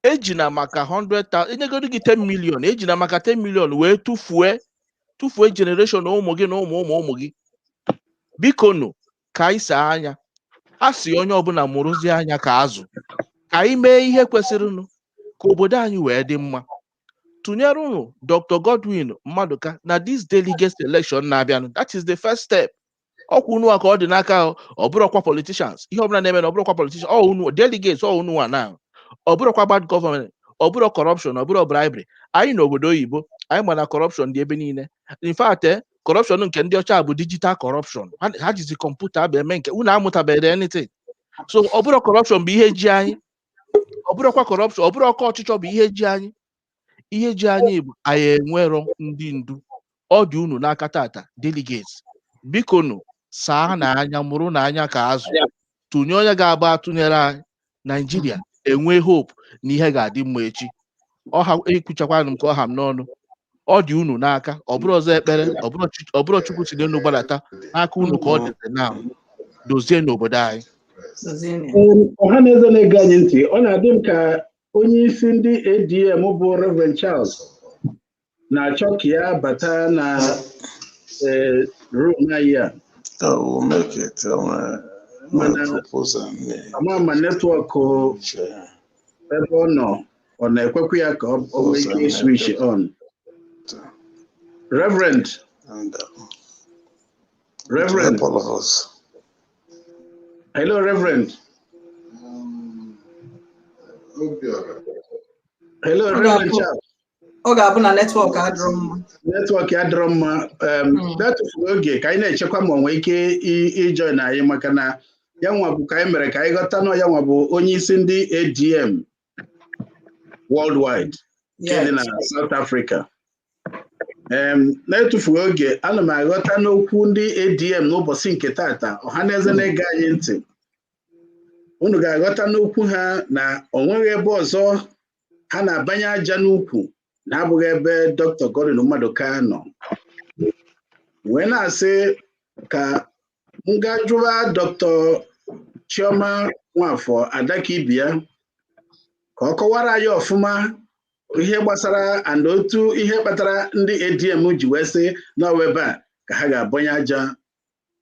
ejina maka 100,000 enyegodu gị 10 million ejina maka 10 million wee tụfue tụfue generation na ụmụ gị na ụmụ ụmụ ụmụ gị biko nụ ka anyị saa anya a sị onye ọbụla mụrụzie anya ka azụ ka anyị mee ihe kwesịrịnụ ka obodo anyị wee dị mma tụnyerenụ Dr Godwin Maduka na this delegate election na-abịanụ that is the first step ọkwa unu wa ka ọ dị n'aka ọ bụrọkwa politicians ihe ọbụla na-eme na ọ bụrọkwa politicians ọ unu delegates ọ unu wa na ọ bụrọkwa bad gọọmenti ọ bụrọ corruption ọ bụrọ bribery anyị nọ obodo oyibo anyị ma na corruption dị ebe niile in fact eh, corruption nke ndị ọcha bụ digital corruption ha ha jizi kọmputa bụ eme nke unu amụtabeghị anything so ọ bụrọ corruption bụ ihe ji anyị ọ bụrọkwa corruption ọ bụrọ oke ọchịchọ bụ ihe ji anyị ihe ji anyị bụ anyị enwerọ ndị ndu ọ dị unu n'aka tata delegates biko nụ saanụ anya mụrụnụ anya ka azụ tụnye onye ga-abụ a tụnyere anyị naijiria enwe hope na ihe ga-adị mma echi ọha ekwuchakwanụ m ka ọ ha m n'ọnụ ọ dị unu n'aka ọ bụrụ ọzọ ekpere ọ bụrụ chi- ọ bụrụ chukwu si n'elu gbadata n'aka unu ka ọ dịzi na dozienụ obodo anyị Dozienụ ya. Ọha na eze na-ege anyị ntị ọ na-adị m ka onye isi ndị ADM bụ Reverend Charles na-achọ ka ya bata na eh, room anyị a I will make it. I will Mana- make propose and me. ama ma netwọk Share. ebe ọ nọ ọ na-ekwekwa ya ka ọ ọ nwee ike iswich on Reverend And uh, Reverend help all of us. Hello, Reverend. Um, Hello, Reverend Charles. Ọ ga-abụ na netwọk adịrọ mma. Netwọk adịrọ mma. Um, hmm. Na-atụfurọ oge ka anyị na-echekwa ma o nwee ike ijoin anyị maka na ya nwa bụ ka anyị mere ka anyị ghọta na ya nwa bụ onye isi ndị ADM worldwide nke dị na South Africa na-etufughị oge ana m aghọta n'okwu ndị ADM n'ụbọchị nke tata ọha na eze na-ege anyị ntị unu ga-aghọta n'okwu ha na o nweghị ebe ọzọ ha na-abanye aja n'ukwu na-abụghị ebe Dr. Godwin Maduka nọ wee na-asị ka m gaa jụwa Dr. chioma nwafọ adakaibeya ka ọ kọwara anyị ọfụma ihe gbasara and otu ihe kpatara ndị adm ji wee sị na ọ wụ ebe a ka ha ga-abọnye aja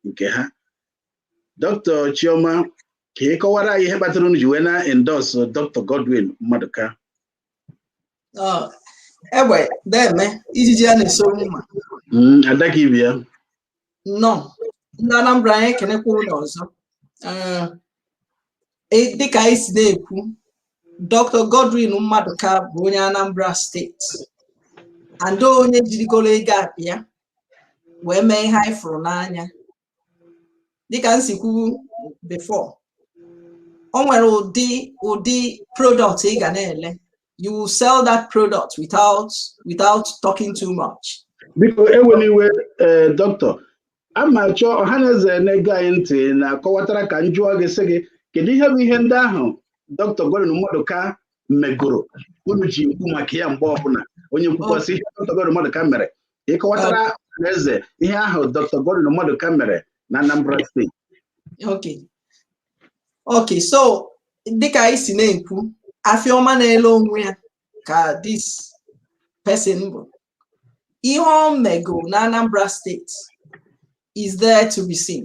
nke ha Dr. chioma ka ị kọwara anyị ihe kpatara unu ji wee na-endorse Dr. godwin maduka egbe deme ijiji a na-eso mma Adakaibeya nnọọ ndị Anambra anyị ekenekwa unu ọzọ dịka anyị si na-ekwu Dr. Godwin Maduka bụ onye Anambra steeti and onye jirigoro ego ya bịa wee mee ihe anyị fụrụ n'anya dịka m si kwuo before o nwere ụdị ụdị product ị ga na-ele you will sell that product without without talking too much. biko ewela iwe eh, doctor aga m achọ ọha na eze na-ege anyị ntị na-akọwatara ka m jụọ gị sị gị kedu ihe bụ ihe ndị ahụ Dr. Godwin Maduka megoro unu ji ekwu maka ya mgbe ọbụla onye kwukwasị ihe Dr. Godwin Maduka mere ị kọwatara ọhaneze ihe ahụ Dr. Godwin Maduka mere na Anambra steeti okay okay so dịka anyị si na-ekwu afịa ọma na-ele onwe ya ka this person bụ ihe o mego na Anambra steeti is there to be seen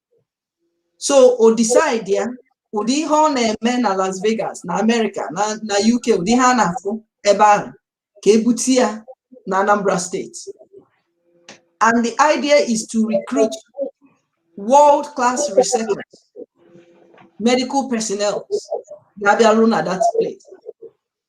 so o decide ya ụdị ihe ọ na-eme na Las Vegas na Amerịka na UK ụdị ihe a na-afụ ebe ahụ ka e bute ya na Anambra steeti and the idea is to recruit world class researchers medical personnel ga-abịaru na that place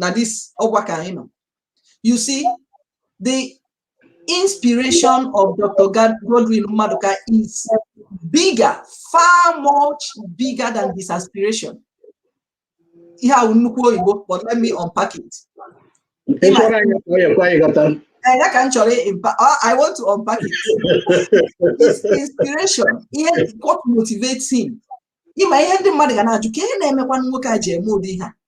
na this ọgwa ka anyị nọ you see the inspiration of Dr. Godwin Maduka is bigger far much bigger than his aspiration ihe ahụ nnukwu oyibo but let me unpack it Eh, ya ka m chọrọ ah, I want to unpack it. His inspiration ihe what motivates him ị ma ihe ndị mmadụ ga na-ajụ ka ihe na-emekwa nwoke a ji eme ụdị ihe a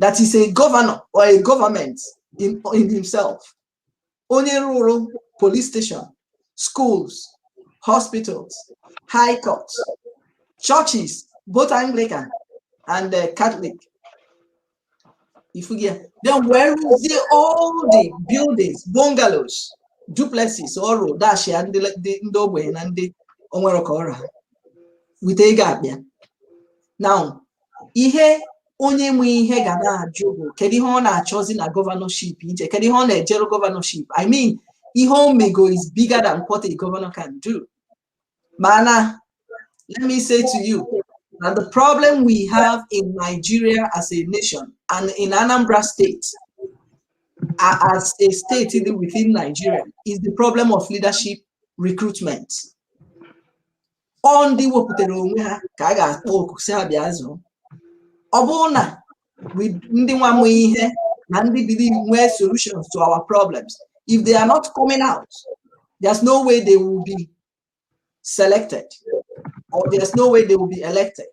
that is a governor or a government in, in himself onye rụrụ police station schools hospitals high courts churches both anglican and uh, catholic ị fụgo ya then where is the, all the buildings bungalows duplexes ọ rụ dashịa ndị ndị- ndị ogbenye na ndị o nwerọ ka ọ ra ha with ego akpa ya now ihe onye nwe ihe ga na-ajụ bụ kedu ihe ọ na-achọzi na gọvanọship ije kedu ihe ọ na-ejere gọvanọship i mean ihe o mego is bigger than what a governor can do mana let me say to you that the problem we have in nigeria as a nation and in anambra state as a state within nigeria is the problem of leadership recruitment ọ ndị wepụtara onwe ha ka a ga-akpọ oku sị ha bịa zọọ ọ bụrụ na ndị nwa ma ihe na ndị believe nwee solutions to our problems if they are not coming out there's no way they will be selected or there's no way they will be elected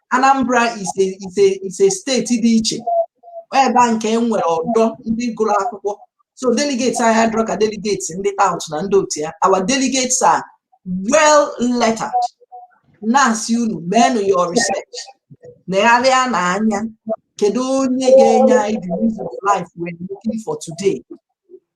Anambra is a is a is a steeti dị iche ebe a ka e nwere ọdọ ndị gụrụ akwụkwọ so delegates anyị adịrọ ka delegates ndị tout na ndị otu ya our delegates are well lettered na-asị unu meenụ your research negharịanụ anya kedu onye ga-enye anyị the reason of life we're looking for today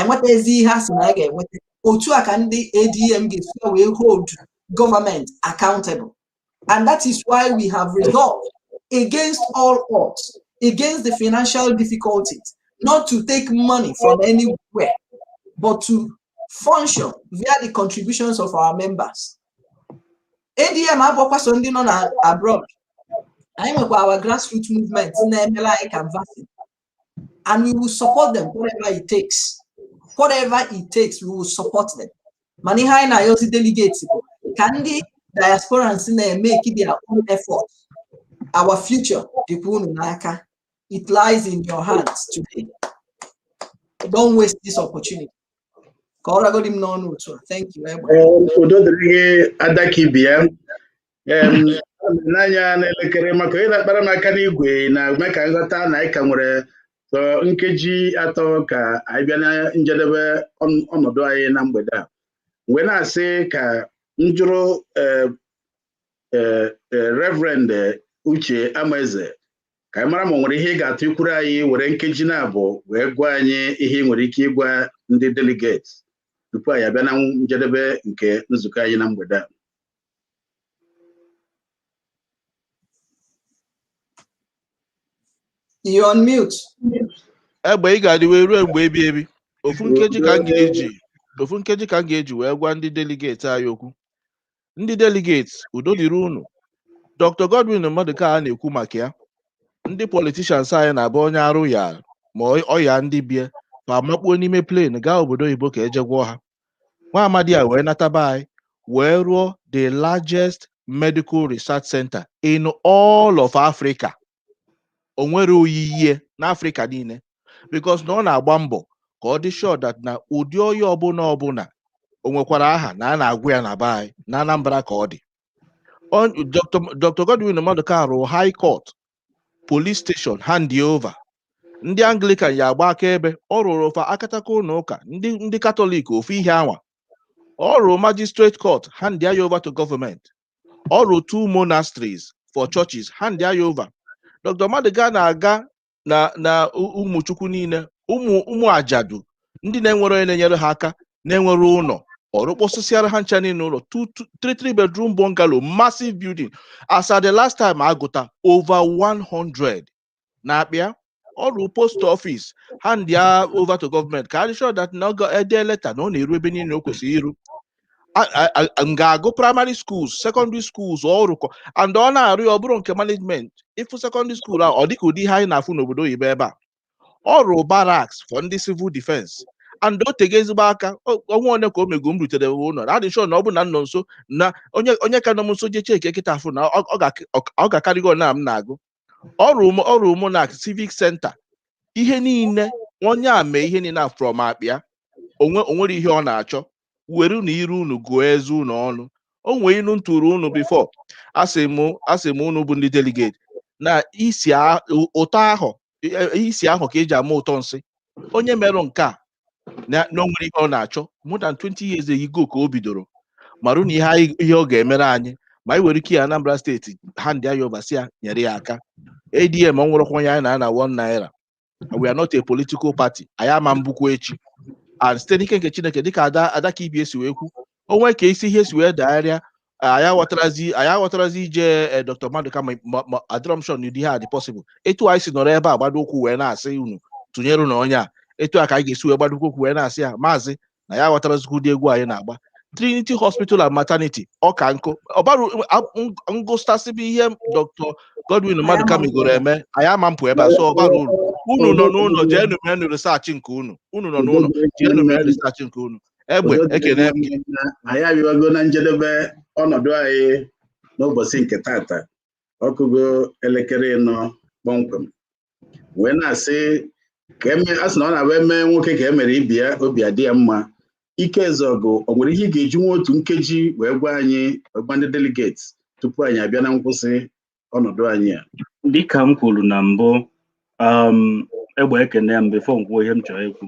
enweta ezi ihe a sị na ya ga-enweta otu a ka ndị ADM ga-esi wee hold gọọmenti accountable and that is why we have resolved against all odds against the financial difficulties not to take money from anywhere but to function via the contributions of our members ADM abụọkwa sọ ndị nọ na abroad anyị nwekwa our grassroots movement na-emere anyị canvassing and we will support them whatever it takes whatever it takes we will support them mana ihe anyị na-ayọzi delegates ka ndị diasporans na-emeki their own effort our future dịkwa unu n'aka it lies in your hands today don't waste this opportunity ka ọ ragodi m n'ọnụ otu a thank you egbe udo dịrị gị adaka ibi ya n'anya n'elekere maka onye na-akpara m aka n'igwe na-eme ka m ghọta na anyị ka nwere sọ nkeji atọ ka anyị bịa na njedebe ọnọdụ anyị na mgbede a m wee na-asị ka m jụrụ eh, eh, eh, reverend uche amaeze ka anyị mara ma o nwere ihe ị ga-achọ ikwuru anyị were nkeji naabọ wee gwa anyị ihe ị nwere ike ịgwa ndị delegates tupu anyị abịa na njedebe nke nzukọ anyị na mgbede a You're on mute. egbe ị ga-adị wee ruo mgbe ebi ebi ofu nkeji ka m ga-eji ofu nkeji ka m ga-eji wee gwa ndị delegate anyị okwu ndị delegate udo dịrị unu dr godwin maduka a na-ekwu maka ya ndị politicians anyị na-abụ onye arụ ya ma ọ- ọ ya ndị be fa amakpuo n'ime plane gaa obodo oyibo ka e je gwọọ ha nwa amadi a wee nata be anyị wee rụọ the largest medical research center in all of Africa o nwerọ oyiyi n'Africa niile because na ọ na-agba mbọ ka ọ dị sure that na ụdị ọya ọbụla ọbụla o nwekwara aha na a na-agwọ ya na be anyị na Anambra ka ọ dị Dr. Godwin Maduka rụrụ High Court police station hand ya over ndị anglikan ya agba akaebe ọ rụụrụ fa akataka ụlọ ụka ndị ndị katọlik ofu ihe anwa ọ rụrụ magistrate court hand ya over to government ọ rụrụ two monasteries for churches hand ya over dr maduka na-aga na na ụmụchukwu niile ụmụ ụmụ ajadu ndị na-enwerọ onye na-enyere ha aka na-enwerọ ụlọ ọ rụkpọsịsịara ha ncha niile ụlọ two- two- three three bedroom bungalow massive building as at the last time a gụta over 100 na-akpịa ọ rụọ post office hand ya over to gọọmenti ka a dị sure that na e dee leta na ọ na-eru ebe niile o kwesịrị iru A- a- a- a- m ga-agụ primary schools secondary schools ọ rụkọ and ọ na-arụ ya ọ bụrọ nke management ị fụ secondary school a ọ dịka ụdị ihe anyị na-afụ n'obodo oyibo ebe a ọ rụrụ barracks for ndị civil defense and o tego ezigbo aka o- ọnwa one ka o mego m rutere ụlọ adị m sure na ọ bụ na m nọ nso na onye onye ka nọ m nso je cheke kịta afụ na ọ ọ ga- ọ- ọ ga-akarịgo na m na-agụ ọ rụrụ m ọ rụrụ monarch civic center ihe niile onye a mee ihe niile a from akpa ya o nwe o nwere ihe ọ na-achọ werenụ ire unu gụọ eze unu ọnụ o nwee inu m tụrụ unu before asị m asị m unu bụ ndị delegate na isi a- ụtọ ahụ e- e- isi ahụ ka eji ama ụtọ nsị onye merụ nke a na na o nwere ihe ọ na-achọ more than 20 years ago ka o bidoro marụ na ihe anyị- ihe ọ ga-emere anyị ma anyị were ike ya Anambra steeti hand ya over sị nyere ya aka ADM o nwerọkwa onye anyị na-ana one naira we are not a political party anyị ama mbụkwa echi and site n'ike nke chineke dịka ada ada ka ibe ya si wee kwu o nwe ka isi ihe si wee dagharịa anyị aghọtarazi anyị aghọtarazi ije eh, dr maduka ma ma- ma adịrọ m sure na ụdị ihe a dị possible etu anyị si nọrọ ebe a gbado ụkwụ wee na-asị unu tụnyere na onye a etu a ka anyị ga-esi wee gbado ụkwụ wee na-asị ya maazị na ya aghọtarazikwu ụdị egwu anyị na-agba Trinity Hospital and Maternity ọka nkụ ọ bụrụ m gụtasịbe ihe Dr. Godwin Maduka megoro eme anyị ama mpụ ebe a so ọ bara uru unu nọ n'ụlọ jeenu menu research nke unu unu nọ n'ụlọ jeenu menu research nke unu egbe ekene m gị anyị abịago na njedebe ọnọdụ anyị n'ụbọchị nke tata ọ kụgo elekere ịnọ kpọmkwem wee na-asị ka eme a sị na ọ na-abụ e mee nwoke ka e mere ibe ya obi adị ya mma ike ezeọgụ o nwere ihe ị ga-eji nwa otu nkeji wee gwa anyị wee gwa ndị delegate tupu anyị abịa na nkwụsị ọnọdụ anyị a dịka m kwuru na mbụ um, egbe ekene m before m kwuo ihe m chọrọ ikwu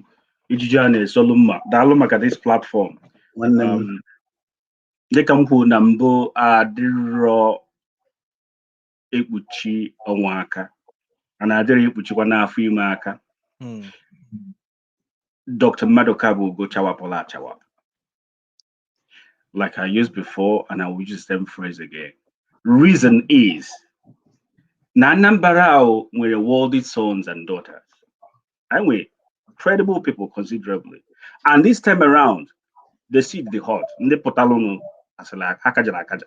ijiji a na-esolu mma daalụ maka this platform nwanne m um, dịka m kwuru na mbụ adịrọ ekpuchi ọnwa aka na adịrọ ekpuchikwanụ afọ ime aka hmm. Dr. Maduka bụ ugo chawapụlụ achawapụ like I used before and I will use the same phrase again reason is na Anambra ahụ nwere worthy sons and daughters anyị nwere credible people considerably and this time around the seat dị hot ndị pụtalụnụ asịla akaja na akaja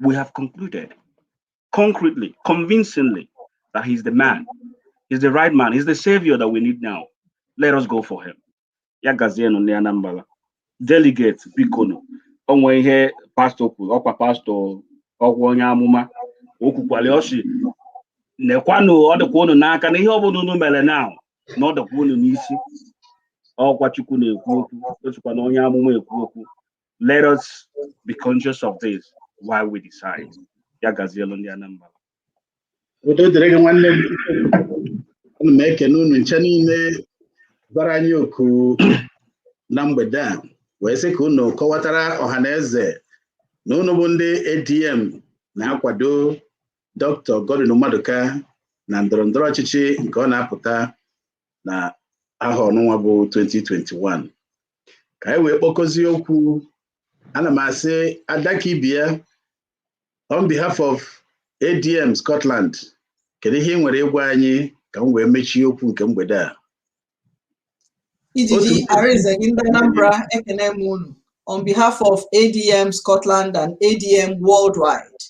we have concluded concretely, convincingly, that he's the man, he's the right man, he's the savior that we need now. Let us go for him. Ya gazienụ ndị Anambra. Delegate bikonu. O nwee ihe pastor kwuru, ọkwa pastor ọkwa onye amụma. O kwukwara ya, ọ sị, nekwanụ ọ dịkwa unu n'aka na ihe ọ bụla unu mere now na ọ dịkwa unu n'isi. Ọkwa Chukwu na-ekwu okwu, o sikwa na onye amụma ekwu okwu. let us be conscious of this while we decide ya gazielu ndị Anambra udo dịrị gị nwanne m ana m ekene unu ncha niile bịara anyị oku na mgbede a wee sị ka unu kọwatara ọha na eze na unu bụ ndị ADM na-akwado Dr. Godwin Maduka na ndọrọndọrọ ọchịchị nke ọ na-apụta na ahọ ọnụnwa bụ 2021 ka anyị wee kpọkọzie okwu ana m asị Ada ka ibe ya on behalf of ADM Scotland kedu ihe i nwere ịgwa anyị ka m wee mechie okwu nke mgbede a Ijiji Arinze gị ndị Anambra ekene m unu on behalf of ADM Scotland and ADM worldwide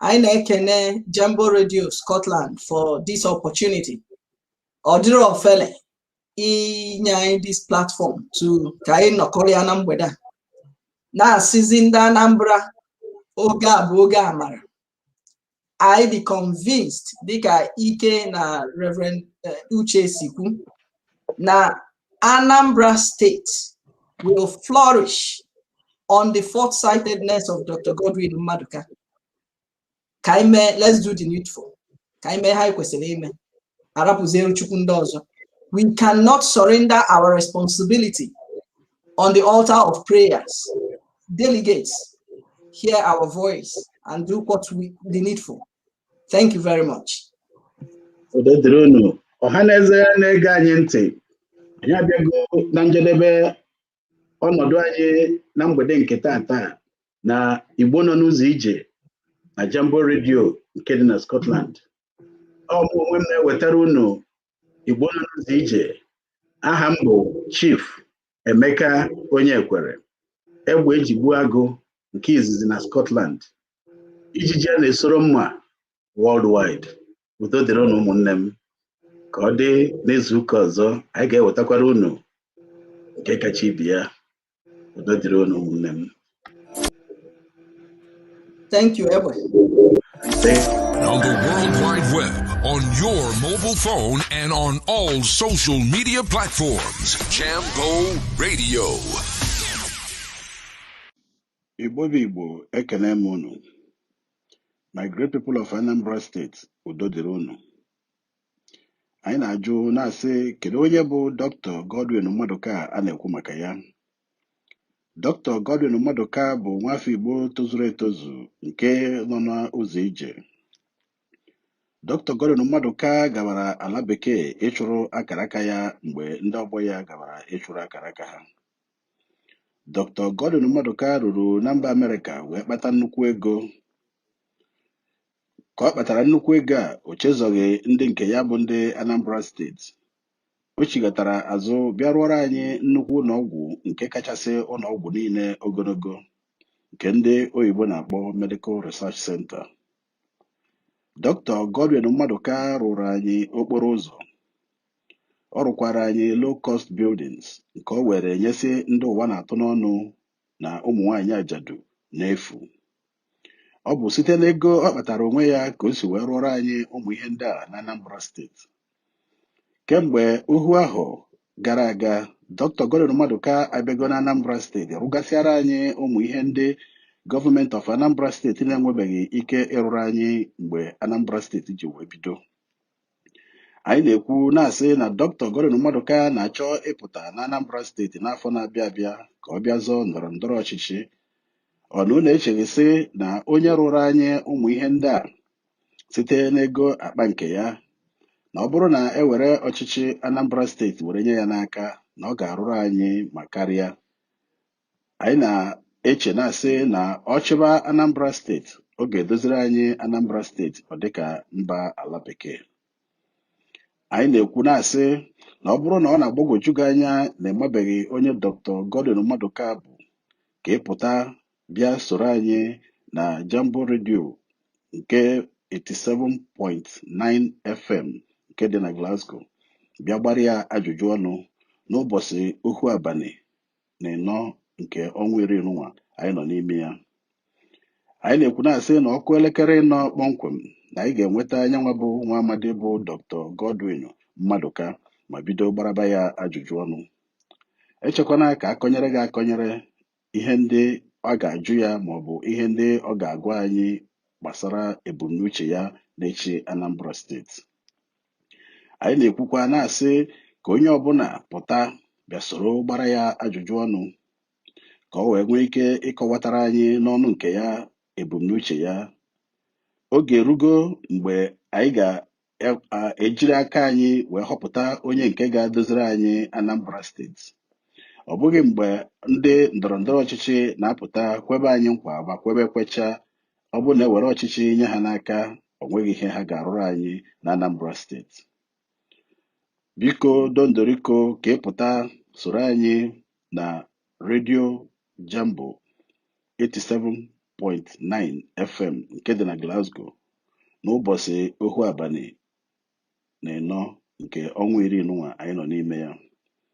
anyị na-ekene Jambo Radio Scotland for this opportunity ọ dịrọ ofele inye anyị this platform to ka anyị nọkọrịa na mgbede a na-asịzi ndị Anambra oge a bụ oge amara anyị dị convinced dịka Ike na Reverend eh, Uche si kwu na Anambra State will flourish on the foresightedness of Dr. Godwin Maduka. ka anyị mee let's do the needful ka anyị mee ihe anyị kwesịrị ime a rapụziere Chukwu ndị ọzọ we cannot surrender our responsibility on the altar of prayers delegates hear our voice and do what we the needful thank you very much udo dịrị unu ọha na eze na-ege anyị ntị anyị abịago na njedebe ọnọdụ anyị na mgbede nke tata na Igbo nọ n'ụzọ ije na Jambo Radio nke dị na Scotland ọ mụ onwe m na-ewetara unu Igbo nọ n'ụzọ ije aha m bụ Chief Emeka Onyekwere egbe eji egbu agụ nke izizi na Scotland ijiji a na-esoro mma worldwide udo dịrị unu ụmụnne m ka ọ dị n'izu ụka ọzọ anyị ga-ewetakwara unu nke kacha ibe ya udo dịrị unu ụmụnne m Thank you, Edward. On the World Wide Web, on your mobile phone, and on all social media platforms, Jambo Radio. Igbo bụ Igbo, ekene m unu. My great people of Anambra State, udo dịrị unu. Anyị na-ajụ na-asị kedu onye bụ Dr. Godwin Maduka a na-ekwu maka ya? Dr. Godwin Maduka bụ nwafọ Igbo tozuru etozu nke nọ n'ụzọ ije. Dr. Godwin Maduka gabara ala bekee ịchụrụ akaraka ya mgbe ndị ọgbọ ya gabara ịchụrụ akaraka ha. Dr. Godwin Maduka ruru na mba Amerịka wee kpata nnukwu ego ka ọ kpatara nnukwu ego a o chezọghị ndị nke ya bụ ndị Anambra steeti o chighatara azụ bịa rụọrọ anyị nnukwu ụlọọgwụ nke kachasị ụlọọgwụ niile ogologo nke ndị oyibo na-akpọ Medical Research Center Dr. Godwin Maduka rụrụ anyị okporo ụzọ Ọ rụkwara anyị low cost buildings nke o were nyesị ndị ụwa na-atụ n'ọnụ na ụmụ nwaanyị ajadu n'efu. Ọ bụ site n'ego ọ kpatara onwe ya ka o si wee rụọrọ anyị ụmụ ihe ndị a n'Anambra steeti. Kemgbe ohu ahọ gara aga, Dr. Godwin Maduka abịago n'Anambra steeti rụgasịara anyị ụmụ ihe ndị government of Anambra steeti na-enwebeghị ike ịrụrụ anyị mgbe Anambra steeti ji wee bido. anyị na-ekwu na-asị na Dr. Godwin Maduka na-achọ ịpụta na Anambra steeti n'afọ na-abịa abịa ka ọ bịa zọọ ndọrọ ndọrọ ọchịchị ọ na unu echeghị sị na onye rụrụ anyị ụmụ ihe ndị a site n'ego akpa nke ya na ọ bụrụ na e were ọchịchị Anambra steeti were nye ya n'aka na ọ ga-arụrụ anyị ma karịa anyị na-eche na-asị na ọ chịba Anambra steeti ọ ga-edoziri anyị Anambra steeti ọ dịka mba ala bekee anyị na-ekwu na-asị na ọ bụrụ na ọ na-agbagwoju gị anya na ị mabeghị onye Dr. Godwin Maduka bụ ka ị pụta bịa soro anyị na Jambo redio nke 87.9 FM nke dị na Glasgow bịa gbara ya ajụjụ ọnụ n'ụbọchị ohu abalị na ịnọ nke ọnwa iri nunwa anyị nọ n'ime ya anyị na-ekwu na-asị na ọ kụọ elekere ịnọ kpọmkwem na anyị ga-enweta nyanwa bụ nwa amadi bụ Dr. Godwin Maduka ma bido gbaraba ya ajụjụ ọnụ echekwana ka a kọnyere gị akọnyere ihe ndị ọ ga-ajụ ya ma ọ bụ ihe ndị ọ ga-agwa anyị gbasara ebumnuche ya n'ịchị Anambra steeti anyị na-ekwukwa na-asị ka onye ọbụla pụta bịa soro gbara ya ajụjụ ọnụ ka o wee nwee ike ịkọwatara anyị n'ọnụ nke ya ebumnuche ya oge erugo mgbe anyị ga-ejiri aka anyị wee họpụta onye nke ga-edoziri anyị Anambra steeti ọ bụghị mgbe ndị ndọrọ ndọrọ ọchịchị na-apụta kwebe anyị nkwa ma kwebe kwecha ọ bụrụ na e were ọchịchị nye ha n'aka o nweghị ihe ha ga-arụrụ anyị na Anambra steeti biko dondoriko ka ị pụta soro anyị na redio Jambo 87.9 FM nke dị na Glasgow n'ụbọchị ohu abalị na ịnọ nke ọnwa iri nunwa anyị nọ n'ime ya